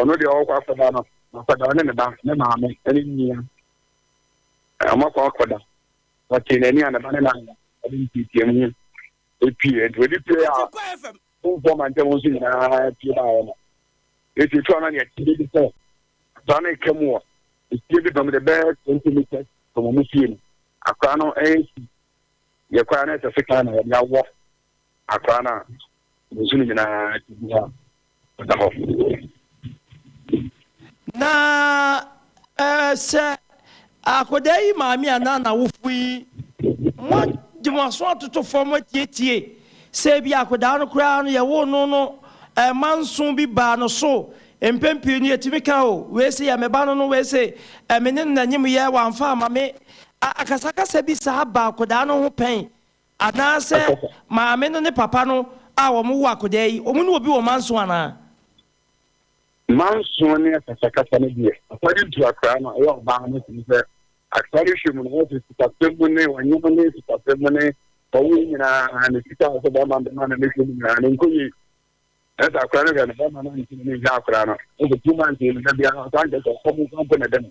ɔno deɛ ɔkɔ akɔda no akɔda ɔne ne ba ne maame ne nua ɔmakɔ akɔda ɔtee n'ani a ne ba ne na ɔde ntietie mu ho epie nti ɔde pie a fomfoɔ ma ntɛm nso nyinaa pie ba ayɛ no eti etu ano deɛ tiri bi sɛ akora no eka mu wɔ efie bi dɔm de bɛɛ twenty meters from ɔmo fie no akora no ɛyɛ si yɛ kora no ɛsɛ sekan na ɔde awɔ. Akwadaa no a ne su no nyinaa te bi a ɔda hɔ. Na eh, sɛ akwadaa yi maame anaa n'awofo yi, moagye mo aso atoto fam atietie sɛ ebi akwadaa no koraa no yɛwoo no no eh, ma nso bi baa no so. Mpɛn pii no yɛtumi ka o, wei se yɛ me ba no no, wei se eh, me ne no na nyem yɛ, wamfa ama me. A, akasakasa bi saa ba akwadaa no ho pɛn Anaasɛ maame no ne papa no a wɔwoo akodaa yi, wɔn ne obi wɔ manso anaa? Manso ne akasakasa no deɛ, asɔre ntu akora no a ɛyɛ ɔbaa no firi sɛ asɔre hwɛ mu no wɔn sɛ sikasɛm mu ne wɔnyem ne sikasɛm mu ne wɔwo nyinaa ne sika a sɛ bɛma bɛma no ne hwɛ mu nyinaa ne nkɔyie ɛsɛ akora no hwɛ no bɛma no nti ne hwɛ akora no ɛsɛ two months no da biara ɔsan kɛ sɛ ɔkɔm nso mpo na ɛdɛ no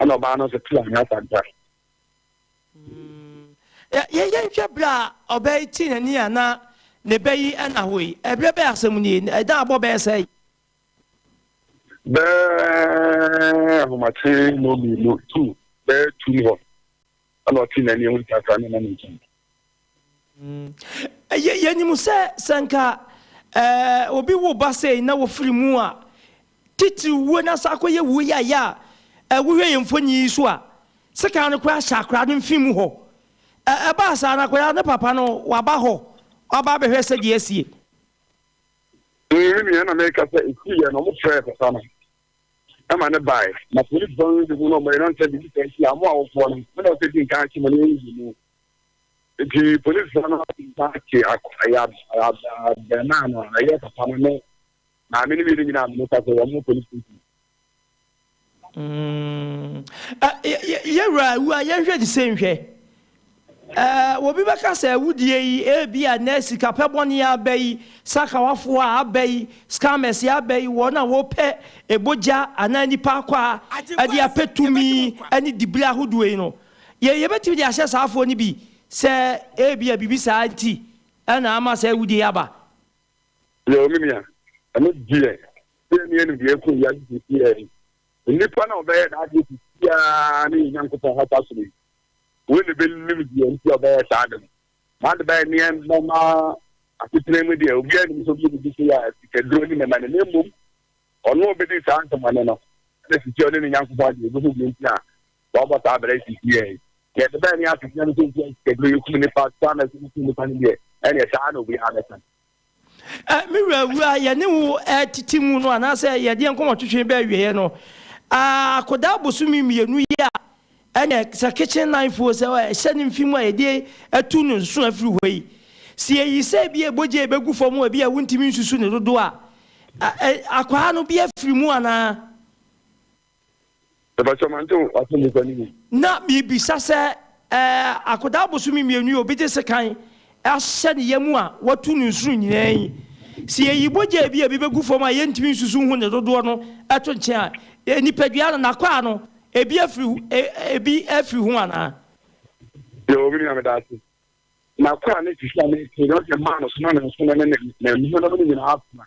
ɛna ɔbaa no nso te anyɛ asanta. Yɛnhwɛ berɛ a ɔbaa yi te n'ani a na ne bɛ yi ɛna hɔ yi, ɛberɛ bɛyɛ asɛm nie, ɛdan abɔ bɛyɛ sɛ yi. Bɛɛ ahomakye no mmienu tu bɛɛ tu hɔ. ɛna ɔte n'ani ehu ntaa koraa ne nam nkyɛn. Yɛ yɛnim sɛ sɛ nka ɛɛ obi wo ba sɛɛ na wɔfiri mu a titiri wuo na saa akɔyɛ wuo yɛ ayɛ a ɛɛ wohwɛ yɛn mfoni yi so a sekan no koraa hyɛ akwadaa no mfin mu hɔ ɛɛ ɛbaa saa na akwadaa ne papa no waba hɔ waba abɛhwɛ sɛ deɛ asie. Ɛɛ me nua na mɛka sɛ ɛsi yɛ na wɔn frɛ papa no. ɛma no bae. Na polisifo no de hu no mmere no nsɛ biribi saa hyia mo awofoɔ no, mo na wɔsɛ di nkan akye mo ne wɔn nyi mu. Enti polisifo no di nkan akye abarimaa no a ɛyɛ papa no ne maame no mmienu nyinaa amene kwa sɛ wɔn mo polis station. Mm. Yɛwura awua yɛnhwɛ te sɛ nhwɛ. Ɛɛ, obi bɛka sɛ awudie yi, ebia nnɛ sikapɛ bɔne yi aba yi, sakawafoɔ a aba yi, scammers yi aba yi, wɔn a wɔpɛ bogya anaa nnipa akwaa de apɛ tumi ne diberɛ ahodoɔ yi no, yɛ, yɛbɛtumi de ahyɛ saa afoɔ no bi sɛ ebia biribi saa nti na ama saa awudie yi aba? Yoo, me nua, ɛno deɛ, deɛ ne yɛnim deɛ ɛrekɔ wiase seesei ara yi, nnipa no a wɔbɛyɛ n'adeɛ seesei ara ne yɛn Nyankopɔn hɔ afahyɛ no yi, Wei na ɛbɛnim deɛ nti a ɔbɛyɛ saa ade no. Saa de bɛyɛ nneɛma ma asetena mu deɛ, obiara nnim sɛ ɔbɛyɛ biribi sei a sikaduro ne mɛma no, na mmom ɔno a ɔbɛdi saa nsɛmmɔne no na sisi a ɔne ne Nyankopɔn agye ɔbɛhu deɛ nti a wɔabɔ saa abira yi sisi yɛ yi. Deɛ ɛde bɛyɛ ne asetena mu sɛ nti a sikaduro yɛkum nnipa saa na ɛsɛ wokum nnipa no deɛ, ɛneɛ saa na obiara bɛka. Ɛ, me wura, awuraa, yɛne wo retete mu no anaasɛ yɛde yɛn nkɔmmɔtwetwe bɛɛ awieeɛ no, a, akɔdaa bosome mmienu yi a, ɛnneɛ, sɛ kitchen knife o, sɛ ɛhyɛ ne mfe mu a yɛde atu no nso afiri hɔ yi, sɛ yɛyi sɛ ebia bogya a ɛbɛgu fam a ebia wontumi nsusu ne dodoɔ a, ɛ, ɛ, akwaa no bi afiri mu anaa? Mepa kyɛw mante wo asɛmmisa no yie. Na mebisa sɛ ɛɛ akwadaa bosome mmienu yi obi gye sekan ahyɛ ne yam a watu no nsono nyinaa yi sɛ yɛyi bogyaa bi a ebi bɛgu fam a yɛntumi nsusu nhu ne dodoɔ no to nkyɛn a nipadua no n'akwaa no ebi afiri ebi afiri ho anaa? Yoo me nua meda ase. N'akwaa no sisi a mete no ɔde maa no soma ne nsono ne ne ne nhono no nyinaa afra.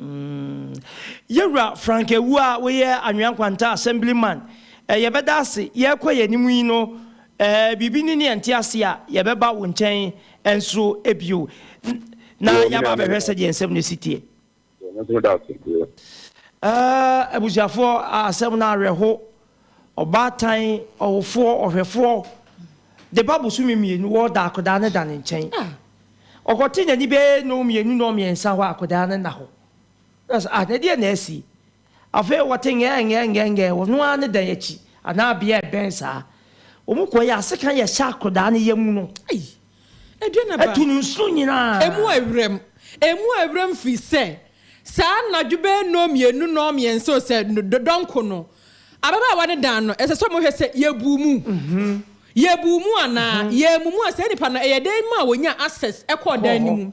Umm Yewura Frank Awu a woyɛ Anwea Nkwanta Assemblyman, eh, yɛbɛda ase, yɛrekɔ yɛn anim yi no, eh, biribi ni ne yɛnte ase a, yɛbɛba wo nkyɛn nso bio na Yo, me yɛaba nua me abɛhwɛ sɛdeɛ nsɛm no si teɛ. Yo, me nso meda ase. Yo. Eh, abusuafoɔ, asɛm no awerɛho. Ɔbaatan ɔwofoɔ, ɔhwɛfoɔ, de ba bosome mmienu wɔ da akwadaa no da ne nkyɛn. Ɔkɔte n'ani bɛyɛ nnɔn mmienu nnɔn mmiɛnsa hɔ a akwadaa no nna hɔ. Ɛna sɛ, ah, na ɛdeɛ na asi? Afei wɔte ngɛɛ ngɛɛ ngɛɛ ngɛɛ wɔ noaa ne dan akyi anaa bea a ɛbɛn saa. Wɔkɔ yɛ asekan yɛhyɛ akwadaa no yam no. Ɛdeɛn na ɛbaa. Ɛtu no nsuo nyinaa. Emu a ɛwerɛm. Emu a ɛwerɛm firi sɛ saa anadwo bɛyɛ nnɔn mmienu, nnɔn mmiɛnsa o sɛ dɔnko no, ababaawa no dan no, ɛsɛ sɛ wɔhwɛ sɛ yɛbuu mu. Yɛbuu mu anaa? Yɛammu mu a saa nipa no ɛyɛ dɛn maa wɔnyaa access kɔɔ dan no mu?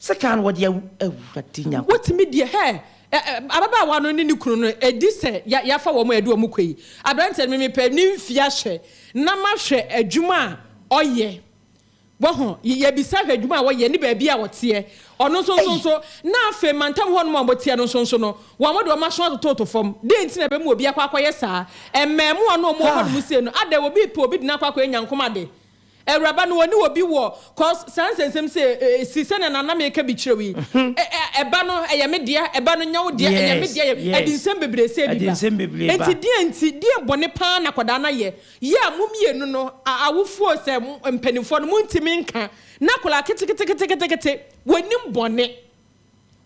Sekan no wɔde awu Awurade Nyankopɔn. Wotumi deɛ hɛ ɛ ɛ ababaawa no ne ne kunu no ɛdi sɛ ya yafa wɔn a ɛde wɔn kɔ yi abranteɛ no memepɛ ne mfie ahwɛ na mahwɛ adwuma a ɔyɛ wahu y yɛbisa hwɛ adwuma a ɔyɛ ne baabi a ɔteɛ ɔno nso nso Ei! nso na afei mantam hɔnom a wɔteɛ no nso nso no wɔn de wɔn aso atototo fam dɛn nti na ɛbɛma obi akɔ akɔyɛ saa mmaamua no a wɔwɔ Haa! hɔnom sei no adɛn obi repɛ obi de no akɔ akɔyɛ nyankomade Awuraba no ɔne obi wɔ cause saa nsɛnsɛm sɛ ɛsi sɛnea nana meka bi kyerɛ wo yi ɛba no ɛyɛ me dea ɛba no nyɛ wo dea ɛyɛ me dea ɛde nsɛm bebree sɛ bi ba ɛnti deɛ nti deɛ bɔne paa na akwadaa no ayɛ yɛ a mo mmienu no awofoɔ sɛ mpaninfoɔ no montimi nka na akwadaa keteketeketekete wɔnim bɔne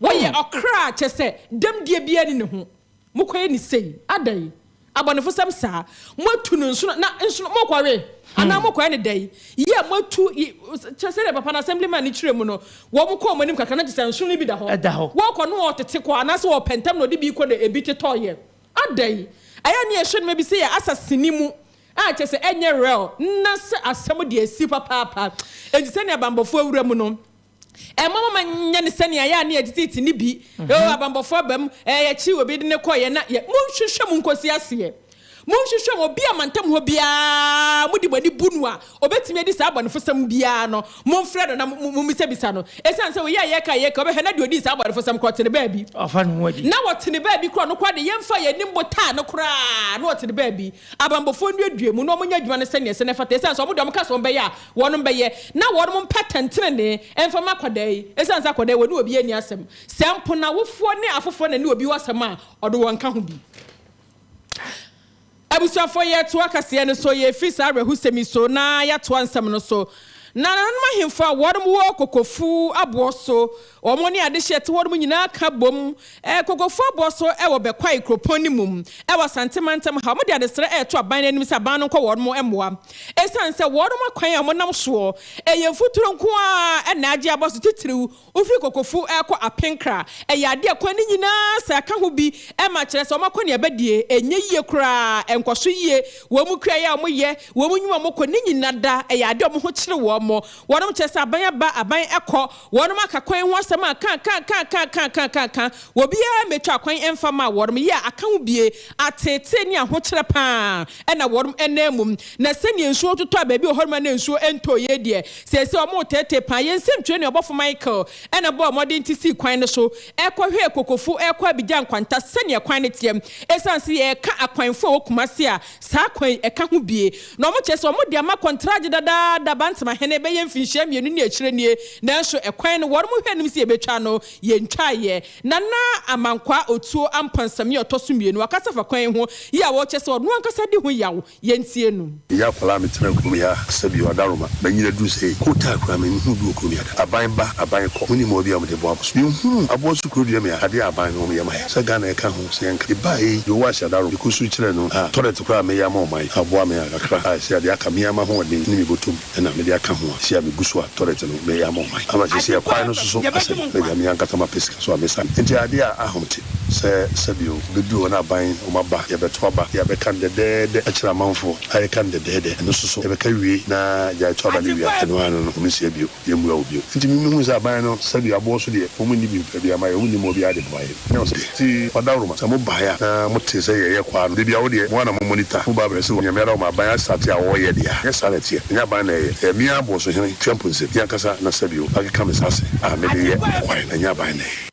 wɔyɛ ɔkra kyɛ sɛ dɛm deɛ biara ni ne ho. Mokɔyɛ no sei? Adɛn? Abɔnefosɛm saa! Moatu no nsono, na nsono, morekɔwe? Anaa morekɔyɛ no dɛn? Yea, moatu, y, kyerɛ sɛdeɛ papa no, Assemblyman no kyerɛɛ mu no, wɔn kɔɔ mo anim kakra, na gye sɛ nsono no bi da hɔ. Ɛda hɔ. Wɔrekɔ no ɔtete kɔ, anaasɛ ɔpɛ ntɛm na ɔde bi rekɔ na ebi tetɔeɛ. Adɛn? Ɛyɛ ne yɛhwɛ nneɛma bi sɛ yɛ asaseni mu, a kyerɛ sɛ ɛnyɛ real, na sɛ asɛm deɛ asi papaapa. Enti sɛnea banbɔfoɔ awura mu no, Ɛmma momma nyɛ no sɛnea ɛyɛ a na yɛteteete no bi. Eo, mhm. abanbɔfo aba mu, ɛɛ, yɛkyee obi de no kɔeɛ na yɛ. Monhwehwɛ mu nkɔsi aseɛ. Monhwehwɛ mu obi a mantam hɔ biara mode mo ani bu no a ɔbɛtumi adi saa abɔnefosɛm biara no, momfrɛ no na mommisa-bisa no. Ɛsiane sɛ woyɛ a yɛka yɛka wobɛhwɛ na deɛ ɔdii saa abɔnefosɛm korɔ ɔtene baabi. Ɔfa ne ho adi. Na ɔtene baabi korɔ no koraa de yɛmfa yɛn anim botaa no koraa na ɔtene baabi. Abanbɔfoɔ nnuadua mu na wɔnyɛ adwuma no sɛdeɛ ɛsɛ na ɛfata, ɛsiane sɛ wɔn deɛ wɔka sɛ wɔn bɛyɛ a, wɔnom bɛyɛ, na wɔnom mpɛ atɛntenenee mfa mma akwadaa yi, ɛsiane sɛ akwadaa yi wɔne obiara nni asɛm, sɛ mpo n'awofoɔ ne afoforɔ na ɛne obi wɔ asɛm a, ɔde wɔn nka ho bi. Abusuafoɔ, yɛretoa kaseɛ no so, yɛrefiri saa awerɛhosɛm yi so na yɛatoa nsɛm no so, Na nananom ahemfo a wɔnom wɔ kokofuo aboɔ so Wɔn ne adehye a ɛte hɔ nom nyinaa ka bom kokofoɔ boɔ so wɔ Bɛkwae kuropɔn no mu wɔ Asante mantam ha. Wɔde adesrɛ reto aban no anim sɛ aban no nkɔ wɔnom mmoa ɛsiane sɛ wɔnom akwan a wɔnam soɔ yɛ mfuturo nko ara na agye aba so titiriw wofiri Kokofo rekɔ Apenkra. Ɛyɛ adeɛ a kwan no nyinaa sɛ ɛka ho bi ma kyerɛ sɛ wɔn akɔneaba deɛ ɛnyɛ yie koraa, ɛnkɔ so yie. Wɔn kuayɛ a wɔyɛ, wɔn nnwuma a wɔkɔ ne nyina da ɛyɛ adeɛ a wɔn ho kyere wɔn. Wɔnom kyerɛ sɛ aban aba, aban kɔ. Wɔnom aka kwan ho asɛm akaakaakaakaakaakaakaaka, wɔ biaa mɛtwa kwan ɛmfa maa wɔnom, yɛ a aka ho bie, ateetee ne ahokyerɛ paa ara na wɔnom ɛnam mu. Na sɛdeɛ nsuo totɔ a baabi wɔ hɔnom a na nsuo ɛntɔɔ yei deɛ, seesei wɔnom reteetee paa. Yɛn nsɛmtwerɛni ɔbɔfo Michael ɛna bɔɔ mmɔden te sii kwan no so ɛkɔhwɛɛ Kokofo ɛrekɔ Abidjan nkwanta sɛdeɛ kwan no teɛ. Ɛsiane sɛ yɛreka akwanfoɔ a ɛwɔ Kumasi a Saa kwan yi, ɛka ho bie na wɔn kyerɛ sɛ wɔn de ama kɔntragye dadaada Bantama hene bɛyɛ mfinhyia mmienu ne akyire nie, nanso ɛkwan no wɔnom hwɛ anim sɛ yɛbɛtwa no, yɛntwaeɛ. Nana Amankwaa Otuo Ampansami a ɔtɔ so mmienu akasa fa kwan yi ho yie a ɔkyerɛ sɛ ɔno ankasa di ho yaw, yɛntie no. Meyɛ akwadaa a metenaa kurom yɛ a sɛ bia ɔdaroma manyin aduru sei ko taa koraa me nhu bi wɔ kurom yɛ da aban ba aban kɔ monim ɔɔ bia wɔde boa boso me nhunu aboa so kuro dua me a adeɛ a aban no wɔn yɛ ma yɛ sɛ Ghana ɛka ho. Sɛ anka ebae yi Yehowa hyɛ da rom de kɔ su kyerɛ no a, tɔlɛt koro a meyɛ ama ɔman yi aboa me a kakra a ɛsɛ a de aka me ara m'ahoɔden ne me bɔtom na mede aka ho a ɛsɛ a megu so a tɔlɛt no meyɛ ama ɔman yi ama seesei ɛkwae no soso asɛe na nea me ankasa mapɛ sika so a mesa no nti ade a ahom te sɛ sɛdeɛ ɔbɛduru hɔ no aban wɔn aba yɛbɛto aba deɛ yɛbɛka no dɛdɛɛdɛ akyerɛ amanfoɔ a yɛka no dɛdɛɛdɛ ɛno soso yɛbɛka wie na gyae to aba no wie a ɛno ara no no wɔnsia bio. yɛmmua wo bio. Enti mimi hui sɛ aban no sɛdeɛ aboɔ so deɛ wɔn nni bimfa biara ma yɛn, wɔn nnim wɔ biara de boa yɛn. Ɛnam sɛ deɛ nti ɔdawroma sɛ mo baeɛ a na mo tee sɛ yɛyɛ kwaa no, da biara wo deɛ mo ara na mo monitor, mo ba brɛ sɛ onyame ara ɔma aban asate a wɔyɛ deɛ a, ɛnyɛ saa na ɛteɛ, ɛnyɛ aban na ɛyɛ, ɛyɛ me ara boɔ so hene, Twɛmpu nsɛm, me ankasa na sɛdeɛ o akeka me nsa ase a mede yɛ ɛkwae na ɛnyɛ aban na ɛyɛ.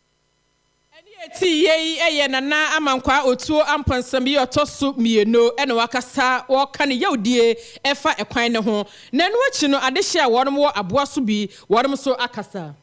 Ɛne ɛte yie yi yɛ Nana Amankwaa Otuo Amponsem yi ɔtɔ so mmieno na wakasa wɔka ne yawdie ɛfa ɛkwan no ho. Na ɛno akyi no adehye a wɔnom wɔ aboa so bi wɔnom nso akasa.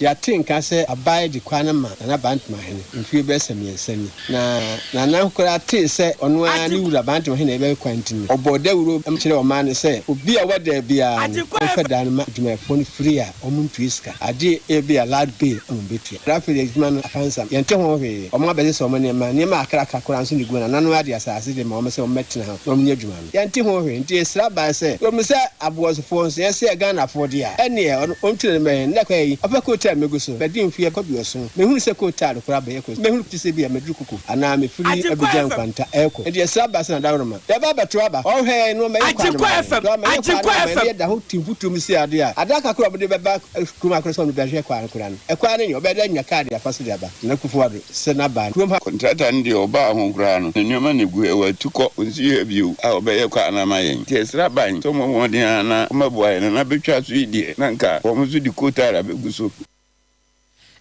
Yɛate nka sɛ abae de kwan no ma Nana Bantemahene mfie bɛyɛ sɛ mmiɛnsa ni. Na Nana koraa tee sɛ ɔno ara ne Wura Bantemahene rebɛwe kwan nti no ɔbɔɔ dawuro kyerɛɛ ɔman no sɛ obi a ɔba daa biara no ɔmfa daa no ma adwumayɛfoɔ no firi a Wɔntua sika, agye ebia Lad Bay na wɔbetua. Rafferty adwuma no apansam, yɛnte ho hwee. Wɔabɛsesa wɔn nneɛma, nneɛma akrakra koraa nso na egu wɔn anan ade asase de ma wɔn sɛ wɔmmɛtena ho na wɔnyɛ adwuma no. Yɛnte ho hwee, nti yɛsra bae sɛ, Yɛhu sɛ Aboasofoɔ nso, yɛn se yɛ Ghanafoɔ deɛ a, ɛnneɛ ɔno ɔntu n'ani mmɛhwɛ yɛn. Nnɛ koraa yi, ɔpɛ coal tar megu so. Madi mfeɛ kɔ aduɔson, menhunu sɛ coal tar no koraa abɛyɛ kɔsi. Mehunu te sɛ ebia maduru Kuku anaa mefiri Abidjan nkwanta rekɔ. Enti yɛsra bae sɛ na daworo ma. Daba bɛto aba. Ɔhwɛ yɛn no ɔmɛyɛ kwan no ma yɛn. Agyenkwa FM, So ɔmɛyɛ kwan no Agyenkwa ama yɛn FM. ne yɛ da hɔ ti mfutrum si ade a, ada kakra a ɔmode bɛba Kumah Akora Sɔmde bɛhwɛ kwan no koraa no, ɛkwan no nyɛ, ɔbɛda anya kaa de afa so de aba Nana Kufuor Addo, Sena, Baa, kurom ha. Contractor no deɛ ɔbaa ho koraa no, ne nneɛma na ɛgu ha, watu kɔ, ɔnsi ha bio a, ɔbɛyɛ kwan no ama yɛn. Nti yɛsrɛ aban sɛ ɔmmɔ mmɔden ara na ɔmmɛboa yɛn, na na bɛtwa so yi deɛ, na anka wɔn nso de coal tar abɛgu so.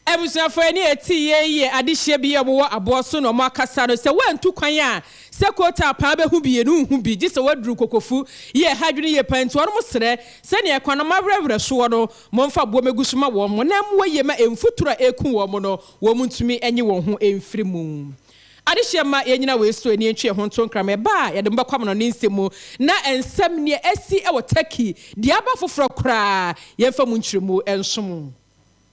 Abusuafo ani atii yɛn yiye adehyeɛ bi a wɔwɔ aboɔ so na wɔakasa no sɛ woantu kwan a sɛ Kootaa paa bɛhu bi no nhu bi gye sɛ woaduru Kokofu yɛ ɛha adwene yie paa nti wɔnom srɛ sɛnea kwan no mawerɛwerɛ soɔ no momfa aboɔ mɛgu so ma wɔn na ɛmmoa yie ma mfuturo a ɛreku wɔn no wɔn ntumi nye wɔn ho mfiri mu. Adehyeɛ mma yɛnnyina wei so ani ntwe yɛn ho nto nkrama. Ɛba a, yɛde mo bɛkɔ amanɔnne nsɛm mu, na nsɛm, nea asi wɔ Turkey, deɛ aba foforɔ koraa, yɛmfa mu nkyerɛmu nso mo.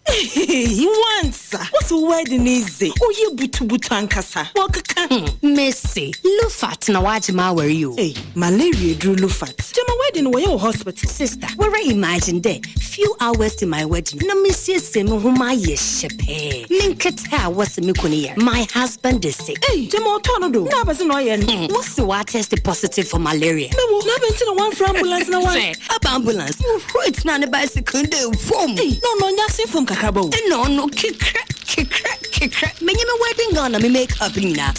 Ehehehe wansa wose wo wedding yi dze oye butubutu ankasa wɔkeka ho. Mese lufat na wagye m'awar yi o. Ei malaria aduru lufat. Gyama wedding no wɔyɛ wɔ hospital. Sister wara imagine dɛ few hours to my wedding no na mesiesie me ho mayɛ hyɛ pɛɛ me nketsewa. pɛ a wɔse me kunu yɛ no, my husband is sick. Ei, gyama ɔtɔɔ no do, na abɛse na ɔyɛ no. Hmm, wɔse watɛste positive for malaria. Me wo, na abɛn nti na wɔamfrɛ ambulance na wɔan. Sɛ aba ambulance, Ruth na ne bicycle da fam. Ei, na ɔno ɔnyɛ asen fam kakraba o. Nna ɔno kekrɛ, kekrɛ, kekrɛ. Menye me wedding gown na me make up nyinaa.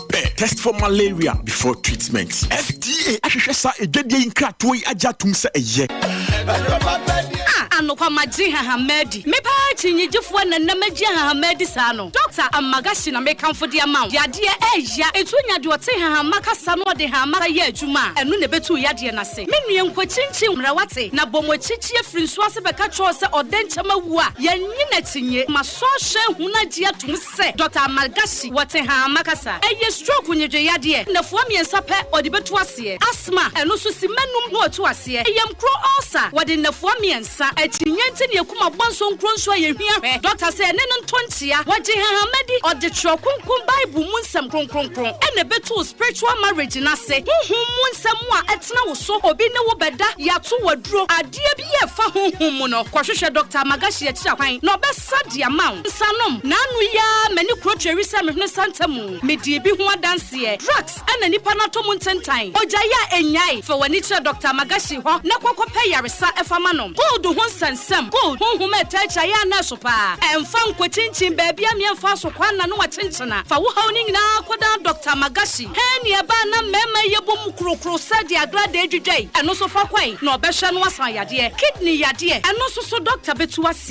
pɛ test for malaria before treatment. FDA ahwehwɛ saa adwadie yi nkratoɔ yi agye atom sɛ ɛyɛ. Ah, anokwa magye hahamadi. Me paa kyinnyegyefoɔ na nam agye hahamadi saa no. Dr. Amagashi na mekamfo de ama wo. Yadeɛ ɛɛya. Etu nya deɛ ɔte hahamma kasa no ɔde hamma yɛ adwuma a, ɛno na ɛbɛtu wo yadeɛ no ase. Me nua nkɔkyinkyin mmara wate? Na bɔ mo akyi kyi afiri nsuo ase bɛka kyerɛ wo sɛ ɔdɛnkyɛm awu a, yɛnnye no akyinnye. Ma sɔhwɛ hunu agye atom sɛ. sɛ Dɔkta Ammar Ghashi wɔ Tehama kasa. Ɛyɛ stroke nnwedwe yadeɛ, nnafua mmiɛnsa pɛ ɔde bɛtu aseɛ. Asthma, ɛno nso simma nnum na ɔtu aseɛ. Yamkuro ulcer, wɔde nnafua mmiɛnsa. Akyinnye nti ne akum abɔ nso nkuro nso a yɛhia hwɛ. Dɔkta sɛ ɛne no ntɔ nkyea. Wɔgye Hahama di, ɔde twerɛ kronkron Bible mu nsɛm kronkronkron ɛna ɛbɛtu wo spiritual marriage no ase. Honhom mu nsɛm mu a ɛtena wo so, obi ne wo bɛda, yɛato wo aduro, adeɛ biara a ɛfa honhom mu no, kɔhwehwɛ Dɔkta Ammar Ghashi akyiri akwan na ɔbɛ. Sa de ama wo nsa nom. Naanu yi ara m'ani kuro tweri sɛ mehunu santa mu. Medii bi ho adanseɛ. Drugs na nipa no atɔ mu ntentan. Ogyae a ɛnnyae. Fa w'ani kyerɛ Doctor Amagashi hɔ na kɔ kɔpɛ yaresa fa ma no. Cold ho nsɛnsɛm, cold, honhom a ɛtaa twa yɛ a na ɛso pa ara. Ɛmfa nkɔkyinkyin baabi a meɛmfa aso kɔ anna no akyenkyena. Fa wo haw no nyinaa kɔdan Doctor Amagashi. Hernia ba a na mmarima yɛ bɔ mu kurokuro sɛ deɛ agradaa dwidwae. Ɛno nso fa kɔe na ɔbɛhwɛ na wasan yadeɛ. Kidney yadeɛ, ɛno nso so Doctor bɛtu ase.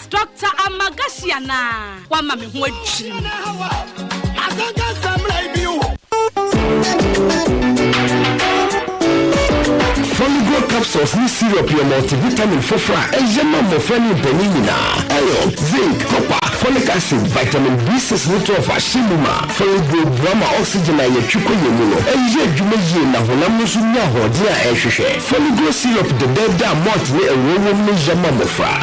Doctor Amagashi anaa? Wama me ho adwiri me. Foligo capsules ne syrup yɛ multivitamin foforɔ a ɛyɛ ma mmɔfra ne mpanin nyinaa. Iron, zinc, copper, folic acid, vitamin B6 ne 12 ahyɛ mu ma. Foligo boa ma oxygen a yɛtwe kɔ yɛn mu no yɛ adwuma yie na honam no nso nya ahoɔden a ɛhwehwɛ. Foligo syrup dɛdɛɛdɛ a malt ne ngo wom no yɛ ma mmɔfra.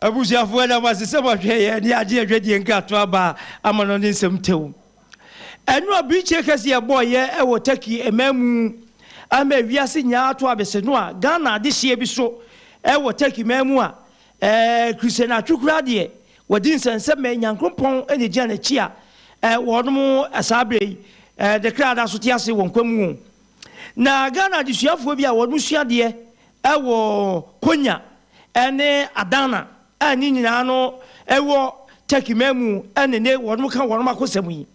Abusuafo, yɛda mo ase sɛ moahwɛ yɛn ne adeɛ dwadie nkratoa baa amanɔne nsɛm tew. Ɛno abirekyie kɛse a ɛbɔɔ yɛ wɔ Turkey mmamu ama ewiase nyinaa ato abese no a Ghana adehyeɛ bi so wɔ Turkey mmamu a Christian atwekura deɛ wɔdi nsɛnsɛmɛ Nyankrompɔn na ɛgyina n'akyi a wɔnom saa berɛ yi ne kra da so te ase wɔ nkwa mu o. Na Ghana adesuafoɔ bi a wɔnom sua adeɛ Wɔ Konya ne Adana a ne nyinaa no wɔ Turkey man mu na nnɛ wɔka wɔn akosɛm yi.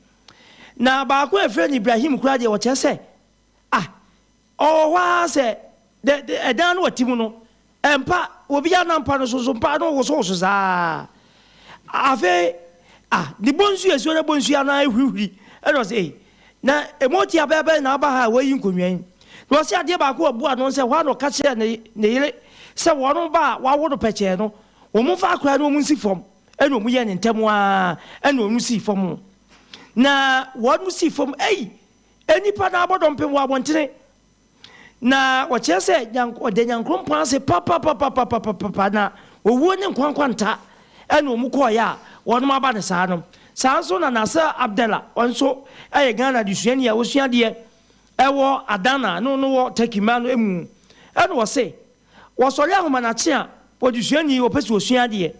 Na baako a yɛfrɛ no Ibrahim koraa deɛ ɔkyerɛ sɛ ah ɔwɔ hɔ ara sɛ dɛ ɛdan no a ɔte mu no mpa obiara nam mpa no so nso mpa no wosowoso saa ara. Afei, ah, ne bonsu esuo ne bonsu ano ara ehurihuri. Ɛna ɔse, ei, na emu ɔte abɛɛ bɛn na aba ha a woayi nkonnwa yi? Na ɔse adeɛ baako a ɛbu ano sɛ hɔ ara na ɔka kyerɛɛ ne, ne yere sɛ wɔn ba a wɔawo no pɛkyɛɛ no, wɔmfa akwadaa no wɔnsi fam. Ɛna wɔyɛɛ no ntɛm ara, ɛna ɔno sii fam. Na wɔn sii fam, ei, nnipa no ara bɔ dɔmpem wɔ abɔntene. Na wɔkyerɛ sɛ Nyank ɔda Nyankrompɔn ase papapapapapapapa, na owuo ne nkwa nkwanta ɛne wɔn kɔɔeɛ a wɔnom aba no saa no. Saa nso na Nasser Abdella, ɔno nso ɛyɛ Ghana adesuani a ɔsua adeɛ ɛwɔ Adana a ne ɔno wɔ Turkey mmaa no ɛmu ɛna ɔse wɔsɔre ahomanakye a wɔde sua ni, wɔpɛ sɛ wɔsua adeɛ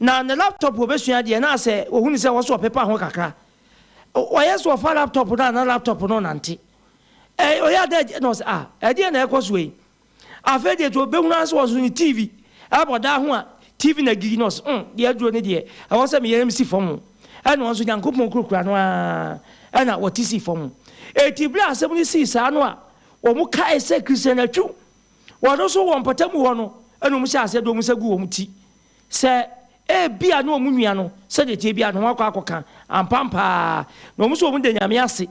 na ne laptop wɔbɛsua adeɛ na sɛ wɔhunu sɛ ɛwɔ sɛ wɔpepa ho kakra, ɔyɛ sɛ wɔfa laptop no a na laptop no ɔnante. Ɛ ɔyɛ ada agya na ɔsɛ ah ɛdeɛ na ɛkɔ soɔ yi afei deɛ to bɛhunu ara sɛ wɔn nso ne tv ɛbɔ daa ho a tv na gigi na ɔsɛ mm deɛ aduro ne deɛ ɛwɔ sɛ meyɛ msi fam o ɛna wɔn nso nyankopɔn kurakura no ara ɛna wɔte si fam eti berɛ asɛm no sii saa no a wɔn kae sɛ christian atwu wɔn nso wɔn mpɔtam hɔ no ɛna wɔn hyɛ aseɛ de wɔn nsa gu wɔn ti Sɛ ebia ne wɔn nua no, sɛdeɛ ɛteɛ biara no, wɔakɔ akɔka ampa ampa ara, na wɔn nso wɔda Nyame ase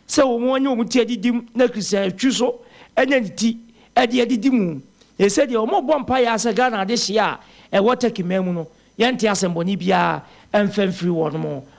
sɛ wɔanya wɔn ti adidim na Christian atwi nso anya ne ti de adidi mu. Enti sɛdeɛ wɔbɔ mpaeɛ ara sɛ Ghana adehyeɛ a ɛwɔ Turkey man mu no, yɛnte asɛmmɔne biara mfa mfiri wɔnom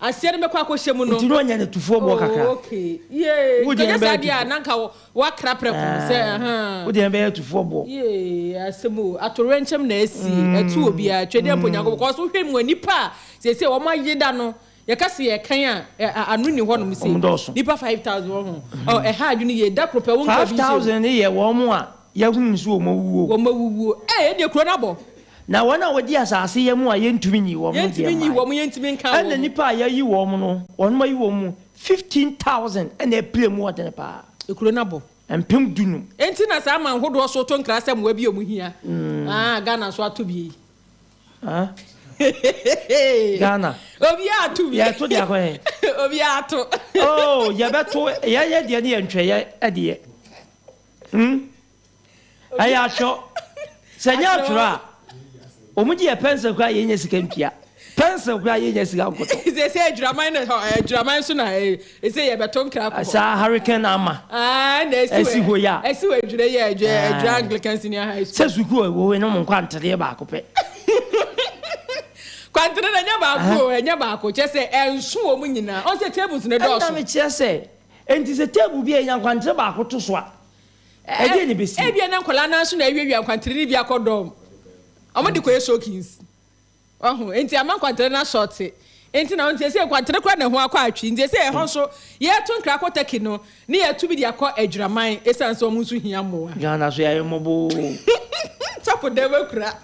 Aseɛ no bɛkɔ akɔhyɛ mu no. Nti na ɔnya no atufoɔ boɔ kakra. Oh ok yee nka ɔnyɛ saa deɛ a na nka wakra prɛko no sɛ ahaa. Wo deɛ no bɛyɛ atufoɔ boɔ. Yee asɛm o atowerɛnkyɛm na asi ɛto obiara twedeɛ mpo Nyankopɔn because wo hwɛ mua nipa a seesei wɔn ayeda no yɛka se yɛkan a ano nni hɔ nom se nipa five thousand wɔho ɛha adwene yie da koro pɛ wo nka obi nhyɛ mu. Five thousand no yɛ wɔn a Yɛahunu nso wɔn awuwuo. Wɔn awuwuo. Ee, yɛdeɛ kuro no abɔ. Na wɔn a wɔdi asase yɛ mu a yɛntumi nyii wɔn no deɛ mmae. Yɛntumi nyii wɔn, yɛntumi nkaa wɔn. Ɛna nnipa a yɛayi wɔn no, wɔn ayi wɔn mu fifteen thousand na ɛpira mu ɔdene paa. Ekuro no abɔ. Mpem dunum. Enti na saa aman hodoɔ so to nkra sɛ mmoa bi a wɔn hia. Aa, Ghana nso ato bi ei. Aa, Ghana. Obiara ato bi. Yɛto deɛ akɔ hɛn. Obiara ato. Oh, yɛbɛto, yɛyɛ deɛ ne yɛntwɛ yɛ deɛ. Hmm. Ɛyɛ akyerɛ sɛ nyɛ atwerɛ a wɔn gye yɛ pɛnsɛl koraa yɛ nyɛ sika ntua pɛnsɛl koraa yɛ nyɛ sika nkɔtɔ. Sɛ sɛ adwiraman na adwiraman so na ɛsɛ yɛ bɛto nkira kɔ. Saa hurricane ama. Aa na ɛsi wɔ ɛsi hɔ yɛ a. Ɛsi wɔ adwira yɛ adwira adwira Anglican senior high school. Sɛ sukuu a wɔwɔ ɛnum nkwantereɛ baako pɛ. Kwantere na ɛnyɛ baako ɛnyɛ baako kyɛ sɛ ɛnso wɔn nyinaa ɔsɛ tables na ɛdɔɔso. Ɛna mi kyerɛ sɛ. Enti sɛ table bi a enya nkwantere baako to so a, ɛdeɛn na ɛbɛsi mu? Ebia na nkwadaa no ara nso na awiawia nkwantere no bi akɔ dɔm. Wɔde kɔyɛ soakings. Wahu? Enti ama nkwantere no asɔɔte. Enti na ɔno seesei nkwantere koraa na ɛho akɔ atwi. Nti seesei ɛhɔ nso, yɛreto nkra kɔ Turkey no, na yɛatu bi de akɔ Adwiraman esiane sɛ wɔn nso hia mmoa. Ghana so yɛayɛ mmɔbɔ oo. Sɔfo dɛm akura.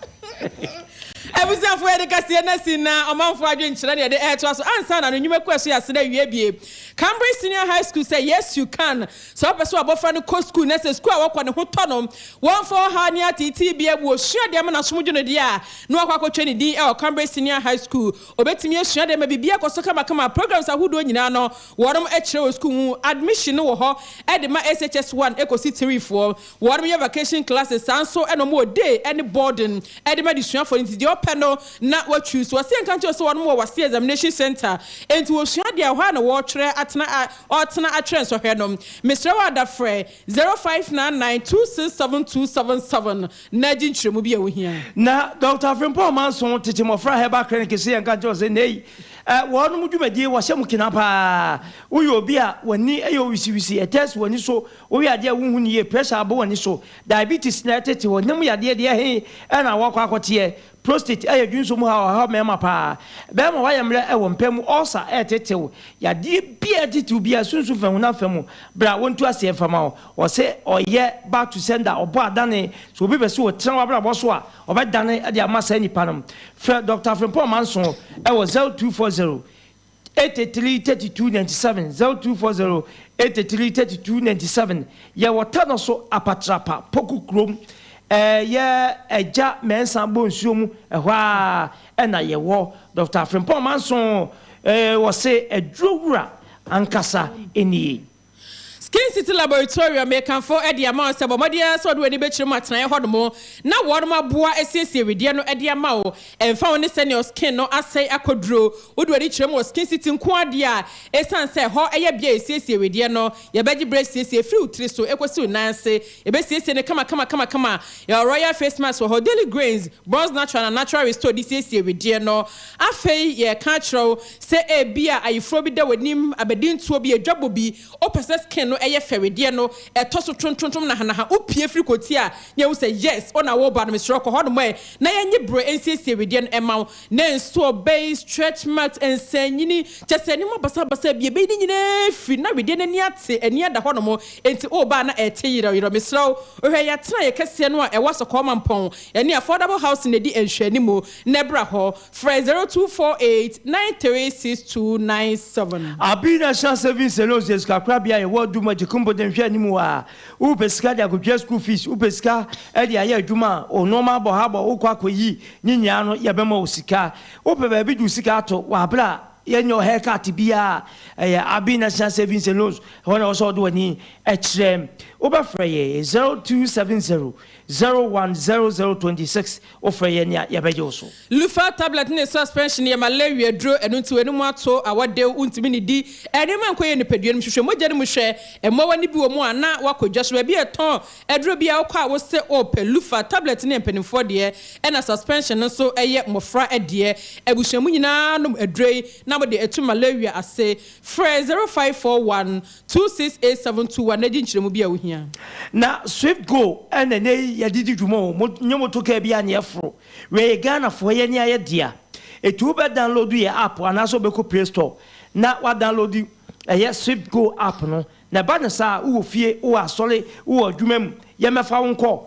Abusuafo, yɛde kaseɛ no asi na ɔmanfoɔ adwenkyerɛ na yɛde retoa so ansa na no nnwumakuo a ɛso yɛ asene awie bie. Cambridge Senior High School sɛ Yes You Can, Sɛ wopɛ sɛ w'abɔfra no kɔ sukuu na sɛ sukuu a wɔkɔ no ho tɔ no, wɔmfa ɔhaw ne ateetee biara mu, osua de ama no asom dwo no deɛ a, na wakɔ akɔtwerɛ ne din wɔ Cambridge Senior High School. Obetumi asua de ama biribiara akɔ so kamakama. Programs ahodoɔ nyinaa no, wɔnom kyerɛ wɔ sukuu ho. Admission no wɔ hɔ de ma SHS One kosi Three foɔ. Wɔnom yɛ vacation classes saa nso na wɔn wɔ day ɛne boarding ɛde ma adesuafoɔ no nti deɛ ɔpɛ no na wa choose. Wɔse yɛnka nkyerɛ wo sɛ wɔnom wɔ wase examination centre enti wɔsua adeɛ a ɛhɔ ara na wɔɔtwerɛ atena a ɔɔtena atwerɛ nsɔhwɛ no. Mesrɛ wo ada frɛ zero five nine nine two six seven two seven seven na gye nkyerɛmu bi a wo hia. Na Doctor Afrempong Amanson tete mmɔfra herbal clinic se yɛnka nkyerɛ wo sɛ nnɛ yi wɔnom dwumadie wɔhyɛ mu kena paa. Woyɛ obi a w'ani yɛ owisiwisi, ɛtɛɛse w'ani so, Woyɛ adeɛ a wonhu no yie, pressure abɔ w'ani so, diabetes na ɛtete hɔ, ne mu yadeɛ deɛ he na woakɔ akɔteɛ, prostate ɛyɛ dwensɔ mu haw a ɛhaw mmarima paa, bɛrima woayɛ mmerɛ wɔ mpa mu, ulcer ɛretete wo, yadeɛ biaa ɛtete wo biaa, sunsum fa honam fa mu, bra wɔntu aseɛ mfa ma wo, wɔse ɔyɛ back to sender, ɔbɔ adane, sɛ obi pɛ sɛ ɔtena w'abrabɔ so a, ɔbɛdane de ama saa nipa no, frɛ Doctor Frimpong Manson wɔ 0240. eighty three thirty two ninety seven zero two four zero eighty three thirty two ninety seven yɛ wɔ tano so apatrapa poku kurom ɛɛ yɛ ɛgya mɛnsa bɔ nsuo mu ɛhɔ a ɛna yɛ wɔ dɔkta afrempɔn manso ɛɛ wɔ se aduro wura ankasa ɛnie. Skin City Laboratorium mekamfo de ama wo sɛ bɔ mmɔden ara sɛ wode w'ani bɛkyerɛ mu atenaeɛ hɔnom na wɔnom aboa asiesie wedeɛ no de ama wo. Ɛmfa ho ne sɛnea wo skin no asɛe akɔ duro, wode w'ani kyerɛ mu wɔ Skin City nko ara deɛ a, ɛsiane sɛ ɛhɔ yɛ bea a yɛsiesie wedeɛ no, yɛbɛgye berɛ asiesie firi wo tiri so kɔsi wo nan ase. Yɛbɛsiesie no kamakama-kamakama. Yɛwɔ Royal Face Mask wɔ hɔ, Daily Grains, Bronze Natural na Natural Restore de siesie wedeɛ no. Afei yɛreka akyerɛ wo sɛ ebia ayeforo bi da w'anim, abadintuo bi, adwabɔ bi, wopɛ sɛ skin no yɛ fɛ, wedeɛ no tɔ so trontrontrom, nahanaha, wopue firi koti a na yɛhu sɛ yes, wo na woreba no, mesrɛ wo kɔ hɔnom ɛ na yɛnye berɛ nsiesie wedeɛ no mma wo. Ne nsoɔ bɛyi stretch marks, nsɛnnyini, kyɛ sɛ nneɛma basabasa bi a ɛbɛyi ne nyinaa afiri. Na wedeɛ no ani ate, ani ada hɔ nom, enti woba a na ɛte yerɛw yerɛw. Mesrɛ wo, hwɛ yɛn atenaeɛ kɛseɛ no a ɛwɔ Asɔkɔɔ Mampɔn, yɛne Affordable Housing na ɛdi nhwɛanimu, na bra hɔ. Frɛ 0248 936297. Abina Shah Savings and Loans yɛ sikakorabea a ɛwɔ Duma, Jikumbo de nhwɛanimu a. Wopɛ sika de akotua sukuu fees, wopɛ sika de ayɛ adwuma a, wo nnoɔma abɔ ha bɔ, wokɔ akɔyi, ne nyinaa no yɛbɛma wo sika. Wopɛ baabi de wo sika ato, w'abrɛ a, yɛnyɛ wo haircut biara, ɛyɛ Abbey National Savings and Loans, ɛhɔ na ɛwɔ sɛ wode w'ani kyerɛ. Wobɛfrɛ yɛn 0270 010026 Wofrɛ yɛn a, yɛbɛgye wo so. Loofah tablet ne suspension yɛ malaria aduro, ɛno nti w'anim ato, awɔ dew, wontumi nnidi. Nneɛma a nkɔyɛ nipadua no mu, hwehwɛ mogya no mu hwɛ, mmoawa no bi wɔ mu a na woakɔ dwa so. Baabi a ɛtɔn aduro biara wokɔ a wose wopɛ. Loofah tablet no yɛ mpanimfoɔ deɛ, ɛna suspension no nso yɛ mmɔfra deɛ. Abusua mu nyinaa nom aduro yi na mode atu malaria ase. Frɛ zero five four one. Two six eight seven two one na di nkyerɛmu bi a wuhia. Na swift go na ɛnɛ yi yɛde di dwuma o, mo nye motor car biara ne ɛforo. Wei yɛ Ghana foɔ yɛ ne ayɛ dea. Eti wo bɛ download yɛ app anaasɛ wo bɛ kɔ play store na wa download ɛyɛ swift go app no. Na ɛba no saa a, wo wɔ fie, wo wɔ asɔre, wo wɔ adwuma mu, yɛn bɛfa wo nkɔ.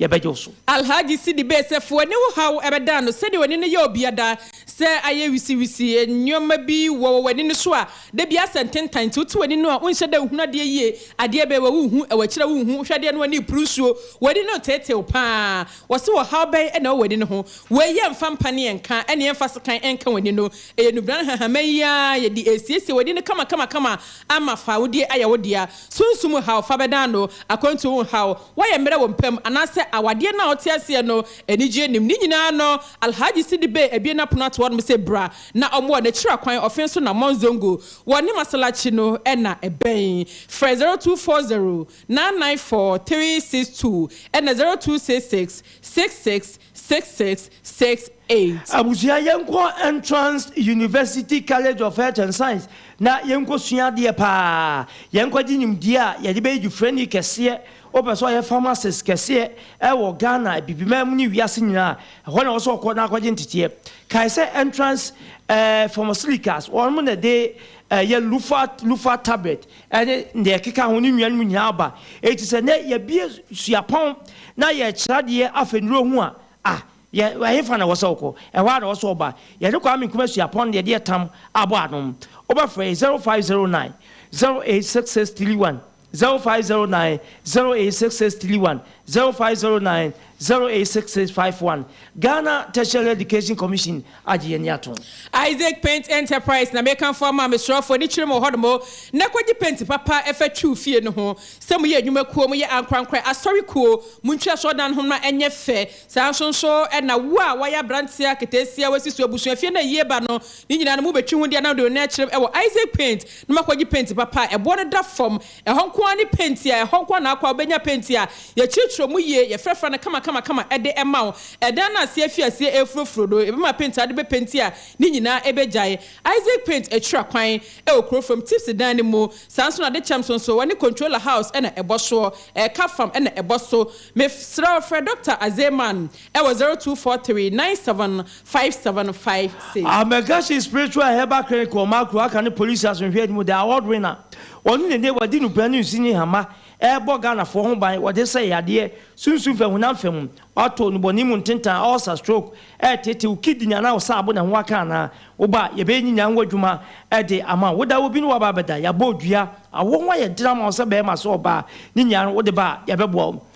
yɛbɛgye wo so. Alhaji Sidi bee sɛ foe ne wo haw bɛdan no sɛdeɛ w'ani no yɛ obia da. Sɛ ayɛ wisiwisi nnoɔma bi wɔ wɔ w'ani no so a, da biara asɛ ntentan nti wote w'ani no a wonhyɛ da nhunu adeɛ yie, adeɛ bɛn wɔ wohu, ɛwɔ akyiri a wonhu, wohwɛ adeɛ no w'ani repuru nsuo, w'ani no reteetew pa ara. Wɔse ɔhaw bɛn na ɛwɔ w'ani no ho? Wei yɛ mfa mpa ne ɛnka ne ɛmfa sekan nka w'ani no. Ɛyɛ nnubrane nhahamma yi ara yɛde resiesie w'ani no kamakamakama ama fawodeɛ ayɛ wo dea. Sunsum haw fa bɛdan no akwantuo ho haw. Wɔyɛ mmerɛ wɔ mpam anaasɛ awadeɛ no a ɔte aseɛ no anigyeɛ nnim. Ne nyinaa no, Alhaji Sidi Bey abue n'apono ato hɔ nom sɛ bra na ɔmmoa no. Akyiri akwan ɔfe so na Mont Zongo wɔ ne masalachi no na ɛbɛn. Frɛ zero two four zero nine nine four three six two ɛna zero two six six six six six six six eight. Abusua yɛnkɔ Entrance University College of Health and Science na yɛnkɔ sua adeɛ paa, yɛnkɔ gye nimdeɛ a yɛde bɛyɛ dufrɛni kɛseɛ, wopɛ sɛ ɔyɛ pharmacist kɛseɛ ɛwɔ Ghana, Abibiman mu ne wiase nyinaa a, ɛhɔ na ɛwɔ sɛ ɔkɔ na akɔgye nteteɛ. Kae sɛ Entrance eh, Pharmaceuticals, wɔnom na ɛde eh, yɛ Lufat, Lufat Tablet, ne nea ɛkeka ho, ne nnuan mu nyinaa aba. Enti sɛ nnɛ yɛabue suapɔn na yɛrekyerɛ adeɛ afa nnuro ho a, ah, yɛ, ɛhefa na ɛwɔ sɛ wokɔ? Ɛhɔ ara na ɛwɔ sɛ woba. Yɛne Kwame Nkrumah suapɔn no, yɛde ɛtam abɔ ano. Wobɛfrɛ yɛn, 0509 086631, 0509 086631, 0509 086651. Ghana Tertiary Education Commission. agye yɛn ani atom. Isaac Paint Enterprise na meka fo ama mesrɛfo ani kyerɛ mo wɔ hɔnom na kɔgye penti papa fa twiw fie no ho sɛ moyɛ adwuma kuo moyɛ ankorankorɛ asɔre kuo montwi asɔredan no ho ma ɛnyɛ fɛ saa nso nso na wo a wayɛ abranteɛ aketeesia wasi so abusua fie no ayie ba no ne nyinaa no mobɛtwi ho deɛ na mede me nan akyerɛm wɔ Isaac Paint na makɔgye penti papa a ɛboɔ no da fam Ɛhɔ nko ara ne penti a ɛhɔ nko ara na akɔ a wobɛnya penti a yɛkyerɛkyerɛ mu yie, yɛfrafra no kamakamakama de ma wo. Ɛdan no aseɛ afi aseɛ refurofuro no, yɛbɛma penti a wode bɛpenti a ne nyinaa bɛgyae. Isaac Paint akyira kwan wɔ kuro fam tips dan no mu. Saa ara nso na adekyɛm so nso wɔne Controller House na ɛbɔ soɔ, ɛka fam na ɛbɔ so. Mesrɛ wo frɛ Dɔkta Azeman ɛwɔ zero two four three nine seven five seven five six. Amergasi Spiritual and Herbal Clinic wɔ Makro aka ne Polisi Asomdwoeɛ no mu, The Award winner, ɔno na ɛnnɛ wadi nnubrɛ ne nsu ne hama rebɔ Ghanafoɔ ho ban wɔde sɛe yadeɛ, sunsum fam, honam fam, wato, nnubɔne mu ntentan, ulcer, stroke, ɛretete wo kidney anaa wo saabo na ɛho aka anaa, woba a yɛbɛyɛ nyinaa ho adwuma de ama wo, woda hɔ bi na woaba abɛda, yɛabɔ dua, awoɔ ho ayɛ den ama wo sɛ bɛrima sɛ ɔbaa, ne nyinaa no wode ba a yɛbɛboa wo.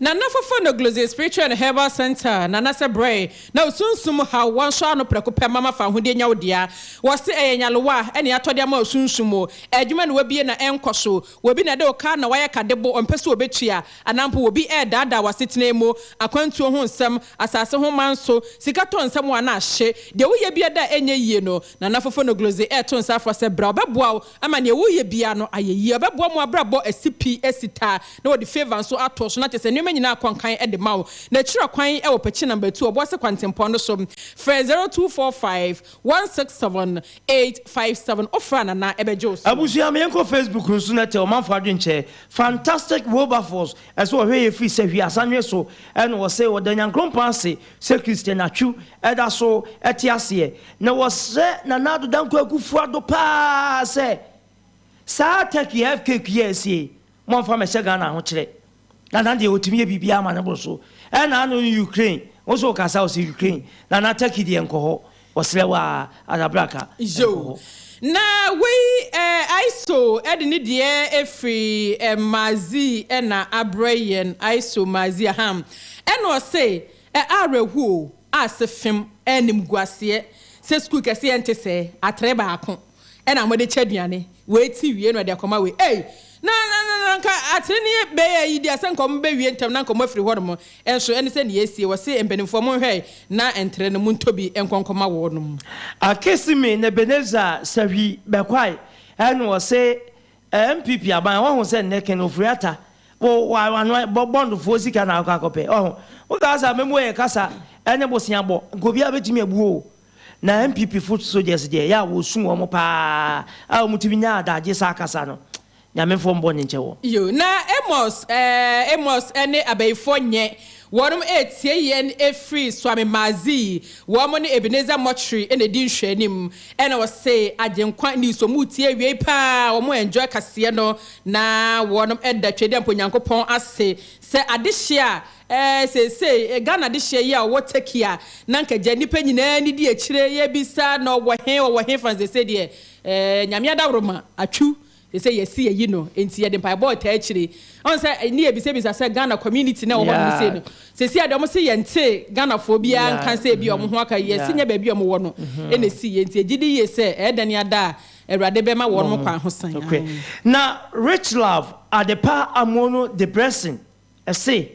Nana Fofo no Glosey Spiritual and Herbal Centre, Nana sɛ brɛe na wo sunsum mu haw wɔnsɔ ano prɛko pɛ mama fa ahodeɛ nya wo dea. Wɔse ɛyɛ nyarewa ne atɔde ama wo sunsum mu. Adwuma na wabie na ɛnkɔ so. Wɔbi na ɛde wo ka na wayɛ ka de bo ɔmpɛ sɛ ɔbɛtua. Anaa mpo wɔbi redaadaa w'asetena mu. Akwantuo ho nsɛm, asase ho manso, sika tɔ nsɛm wo anaa hye. Deɛ woyɛ biara da a ɛnyɛ yie no, Nana Fofo no Glosey reto nsa afrɛ sɛ bra ɔbɛboa wo. ama nea woyɛ biara no ayɛ yie. Ɔbɛboa mo abrabɔ asi pi, asi taa, na wɔde favour nso ato so, na kyerɛ sɛ nneɛma nyinaa kɔ nkan de ma wo. N'akyiri akwan wɔ Pɛkye Number Two, Ɔboase Kwantempɔn no so. Frɛ zero two four five one six seven eight five seven. Wofrɛ a Nana bɛgye wo so. Abusua ma yɛn kɔ Facebook no so na tɛ ɔmanfo adwen kyɛ fantastic Wilberforce ɛsɛ ɔhwɛ yɛ firi sɛ hwii asanwe so ɛna ɔse ɔda Nyankrompɔn ase Sɛ Christianatwo da so te aseɛ na wɔsrɛ Nana Addo Dankwa Akuffo Addo paa sɛ saa turkey a FKQ yi a ɛsi yi mommfa mmɛhyɛ Ghana ahokyerɛ. Nana deɛ ɔtumi yɛ biribiara ma no boro so. Ɛna ano no Ukraine, wo nso woka saa wo se Ukraine, Nana turkey deɛ nkɔ hɔ. Wɔsrɛ wo aa ara bra ka nkɔ hɔ. Na wei eh ISO de ne deɛ ɛfiri eh Mazi na abrɛ yɛn ISO Mazi ahaa ɛna ɔse eh awerɛhuo a se fem animguaseɛ sɛ sukuu kɛseɛ nte sɛ atere baako. na mode kyɛ aduane, wei te wie na ɔde akɔma wei, ei, na, na, na, na anka atenenee bɛyɛ ayi deɛ, sɛ anka wɔbɛwie ntɛm na anka wɔafiri hɔnom, nso ɛne sɛ nea asie, wɔse mpanimfoɔ monhwɛ na ntere no montɔ bi nkɔ nkɔma wɔnom. Akesi me Nebenezer Sahwi bɛkwae ɛna ɔse NPP aban wahu sɛ nnɛ Ken Ofori-Atta wo wano bɔ bond foɔ sika na akɔ akɔpɛ, wahu, wo kasa a mɛmu ɛyɛ kasa ɛne boseabɔ, nka obiara bɛtumi abu oo. Na NPP fo soldiers deɛ ɛyɛ a wɔsu wɔn paa a wɔn tumi nya adagye saa kasa no Nyame foɔ mbɔ ne nkyɛ wɔn. Yoo na Amos eh Amos ne abayifoɔ nyɛ wɔnom ɛretie yɛn ɛfiri Swami Maazi wɔnom ne Ebenezer Mortuary na ɛdi nhwɛanim ɛna ɔse Agyenkwa news wɔn retie awiei paa wɔn enjoy kaseɛ no na wɔnom ɛda Twedeɛmpo Nyankopɔn ase sɛ adehye a Ɛɛ seesei Ghana dehyeɛ yi a ɔwɔ Turkey a na nka gya nnipa nyinaa ani di akyire yɛbisa na ɔwɔ he ɔwɔ he fa no seesei deɛ ɛɛ Nyame adaworoma atwu seesei yɛse yɛyi no nti yɛde mpaebɔ retaa akyire ɔhu sɛ ne yɛbisabisa sɛ Ghana community no a ɛwɔ hɔ nom sei no seesei adeɛ ɔmo se yɛnte Ghanafoɔ biara nka sɛ ebia ɔmo ho aka yɛse nyɛ baabi a ɔmo wɔ no na ɛsiiɛ nti yɛgye di yie sɛ ɛɛdane ada a Awurade bɛma wɔnom kwan ho san. Na Richlove Adepa Amoonu Debresin Ɛse,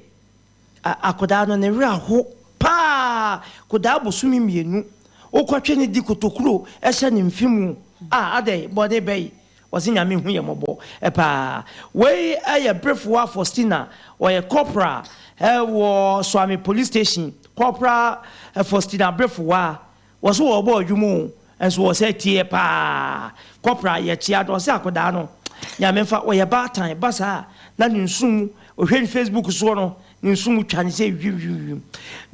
a akodaa no ne werɛ aho paa kodaa bosome mmienu wokɔtwe no di kotokuro hyɛ ne mfe mu a adɛn bɔne bɛn ɔse Nyame hu yɛn mmɔbɔ paa wei yɛ Berefowa Faustina ɔyɛ corporal wɔ Suame police station Corporal Faustina Berefowa. Wɔ so wɔɔbɔ adwuma oo nso wɔ sɛ tie paa kɔpra yɛ kyea do ɔse akodaa no nyame nfa ɔyɛ baatan ba saa na ne nsu mu ohwɛ ne facebook soɔ no ne nsu mu twa ne sɛ wiwimwim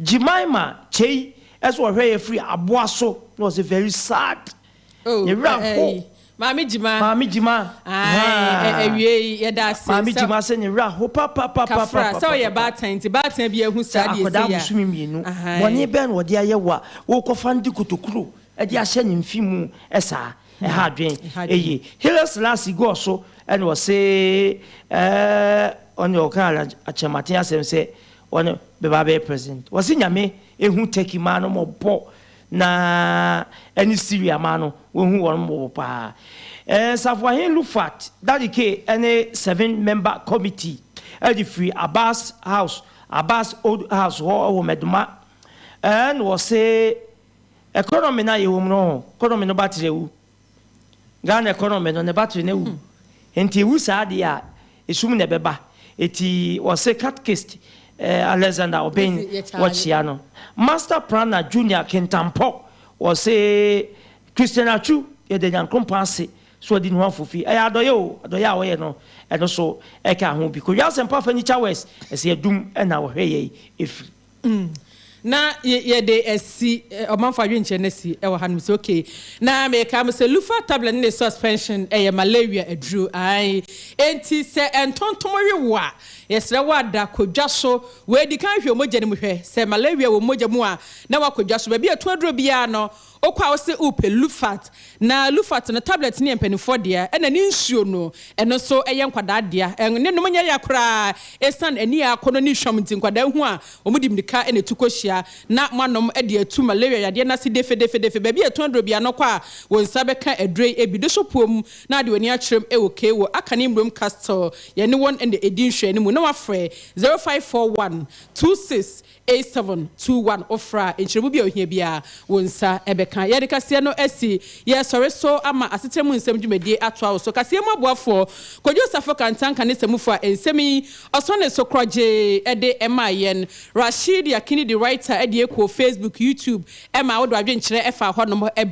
gyemaima kyei ɛso ɔhwɛ yɛ firi aboa so na ɔse very sad ne wura ho. Maame Gyima. Maame Gyima. Ae, awiei, yɛda ase sɛ. Maame Gyima sɛ ne werɛ how papapapapapa. Kafra, sɛ ɔyɛ baatan nti, baatan biara hu saa deɛ ɛsɛ yɛ a. Sɛ akwadaa bosome mmienu, bɔne bɛn na wɔde ayɛ wo a, worekɔfa no de kotokuro de ahyɛ ne mfe mu saa? Ɛha adwene. Eye. Haile Selassie gɔɔ so na ɔse, ɔne ɔkaa Akyerɛmaten asɛm sɛ ɔne bɛba abɛyɛ president. Ɔse Nyame hu Turkey maa no mmɔbɔ Na ɛne Siria man no, wɔahu wɔn mmɔbɔ paa. Safoahen Lufat Dadike ne Seven Member Committee de firi Abbas House, Abbas Old House hɔ wɔ Meduma, na wɔse economy no a yɛwɔ mu no, economy no ba trɛw. Ghana economy no ne battery no awu nti ewu saa deɛ a esum na ɛbɛba eti wɔse catkist eh, Alexander Obeng wɔkyea no Master Prana Junior Kintampɔ wɔse Christian Atsu yɛda Nyankrompɔn ase so ɔde nuho afofi ɛyɛ adɔyɛ o adɔyɛ a wɔyɛ no ɛno so ɛka ho bi Kodwo Asɛmpa Afanyikya West ɛsɛ yɛdum ɛna wɔhwɛ yɛi efiri Mm. Na y yɛde asi, eh, ɔmanfo adwenkyerɛ no asi wɔ hanom sɛ, okay, na meka mo sɛ Lufa tablet ne ne suspension ɛyɛ malaria aduro. Ae. Enti sɛ ntontom we wo a, yɛsrɛ wo ada, kɔ dwa so. Wei di kan hwɛ wo mogya no mu hwɛ. Sɛ malaria wɔ mogya mu a, na woakɔ dwa so. Baabi a ɛto aduro biara no, Wokɔ a wose wopɛ lufat na lufat no tablet no yɛ mpaninfoɔ dea ɛna ne nsuo no ɛno nso ɛyɛ nkwadaa dea ɛn ne nom nyɛ ya koraa ɛsiane ani a akɔnɔ ne hwam nti nkwadaa hu a wɔn de mirika ɛna tu kɔhyia na moanom ɛde atu malaria yadeɛ no ase defedefedefe baabi a ɛtɔn aduro biara no kɔ a wo nsa bɛka aduro yi ɛbi do so puo mu na ade w'ani akyerɛm ɛwɔ okay wɔ aka ne mmrom castle yɛne wɔn ɛna ɛdi nhwɛanimu na wafrɛ 0541 26 A seven, two, one, Ofra a, nkyerɛmu bi a ohia biara, wo nsa bɛka. Yɛde kaseɛ no asi yɛn sɔre so ama Asetra mu Nsɛm dwumadie atoa wo so. Kaseɛ mu aboafoɔ, Kojo Osafo Kantah nka ne samufo a nsɛm yi ɔsɔ ne so korɔgyee de maa yɛn. Rasheed Yakini de writer deɛ kɔɔ Facebook, YouTube ma wo de w'adwenkyerɛ faa hɔnom.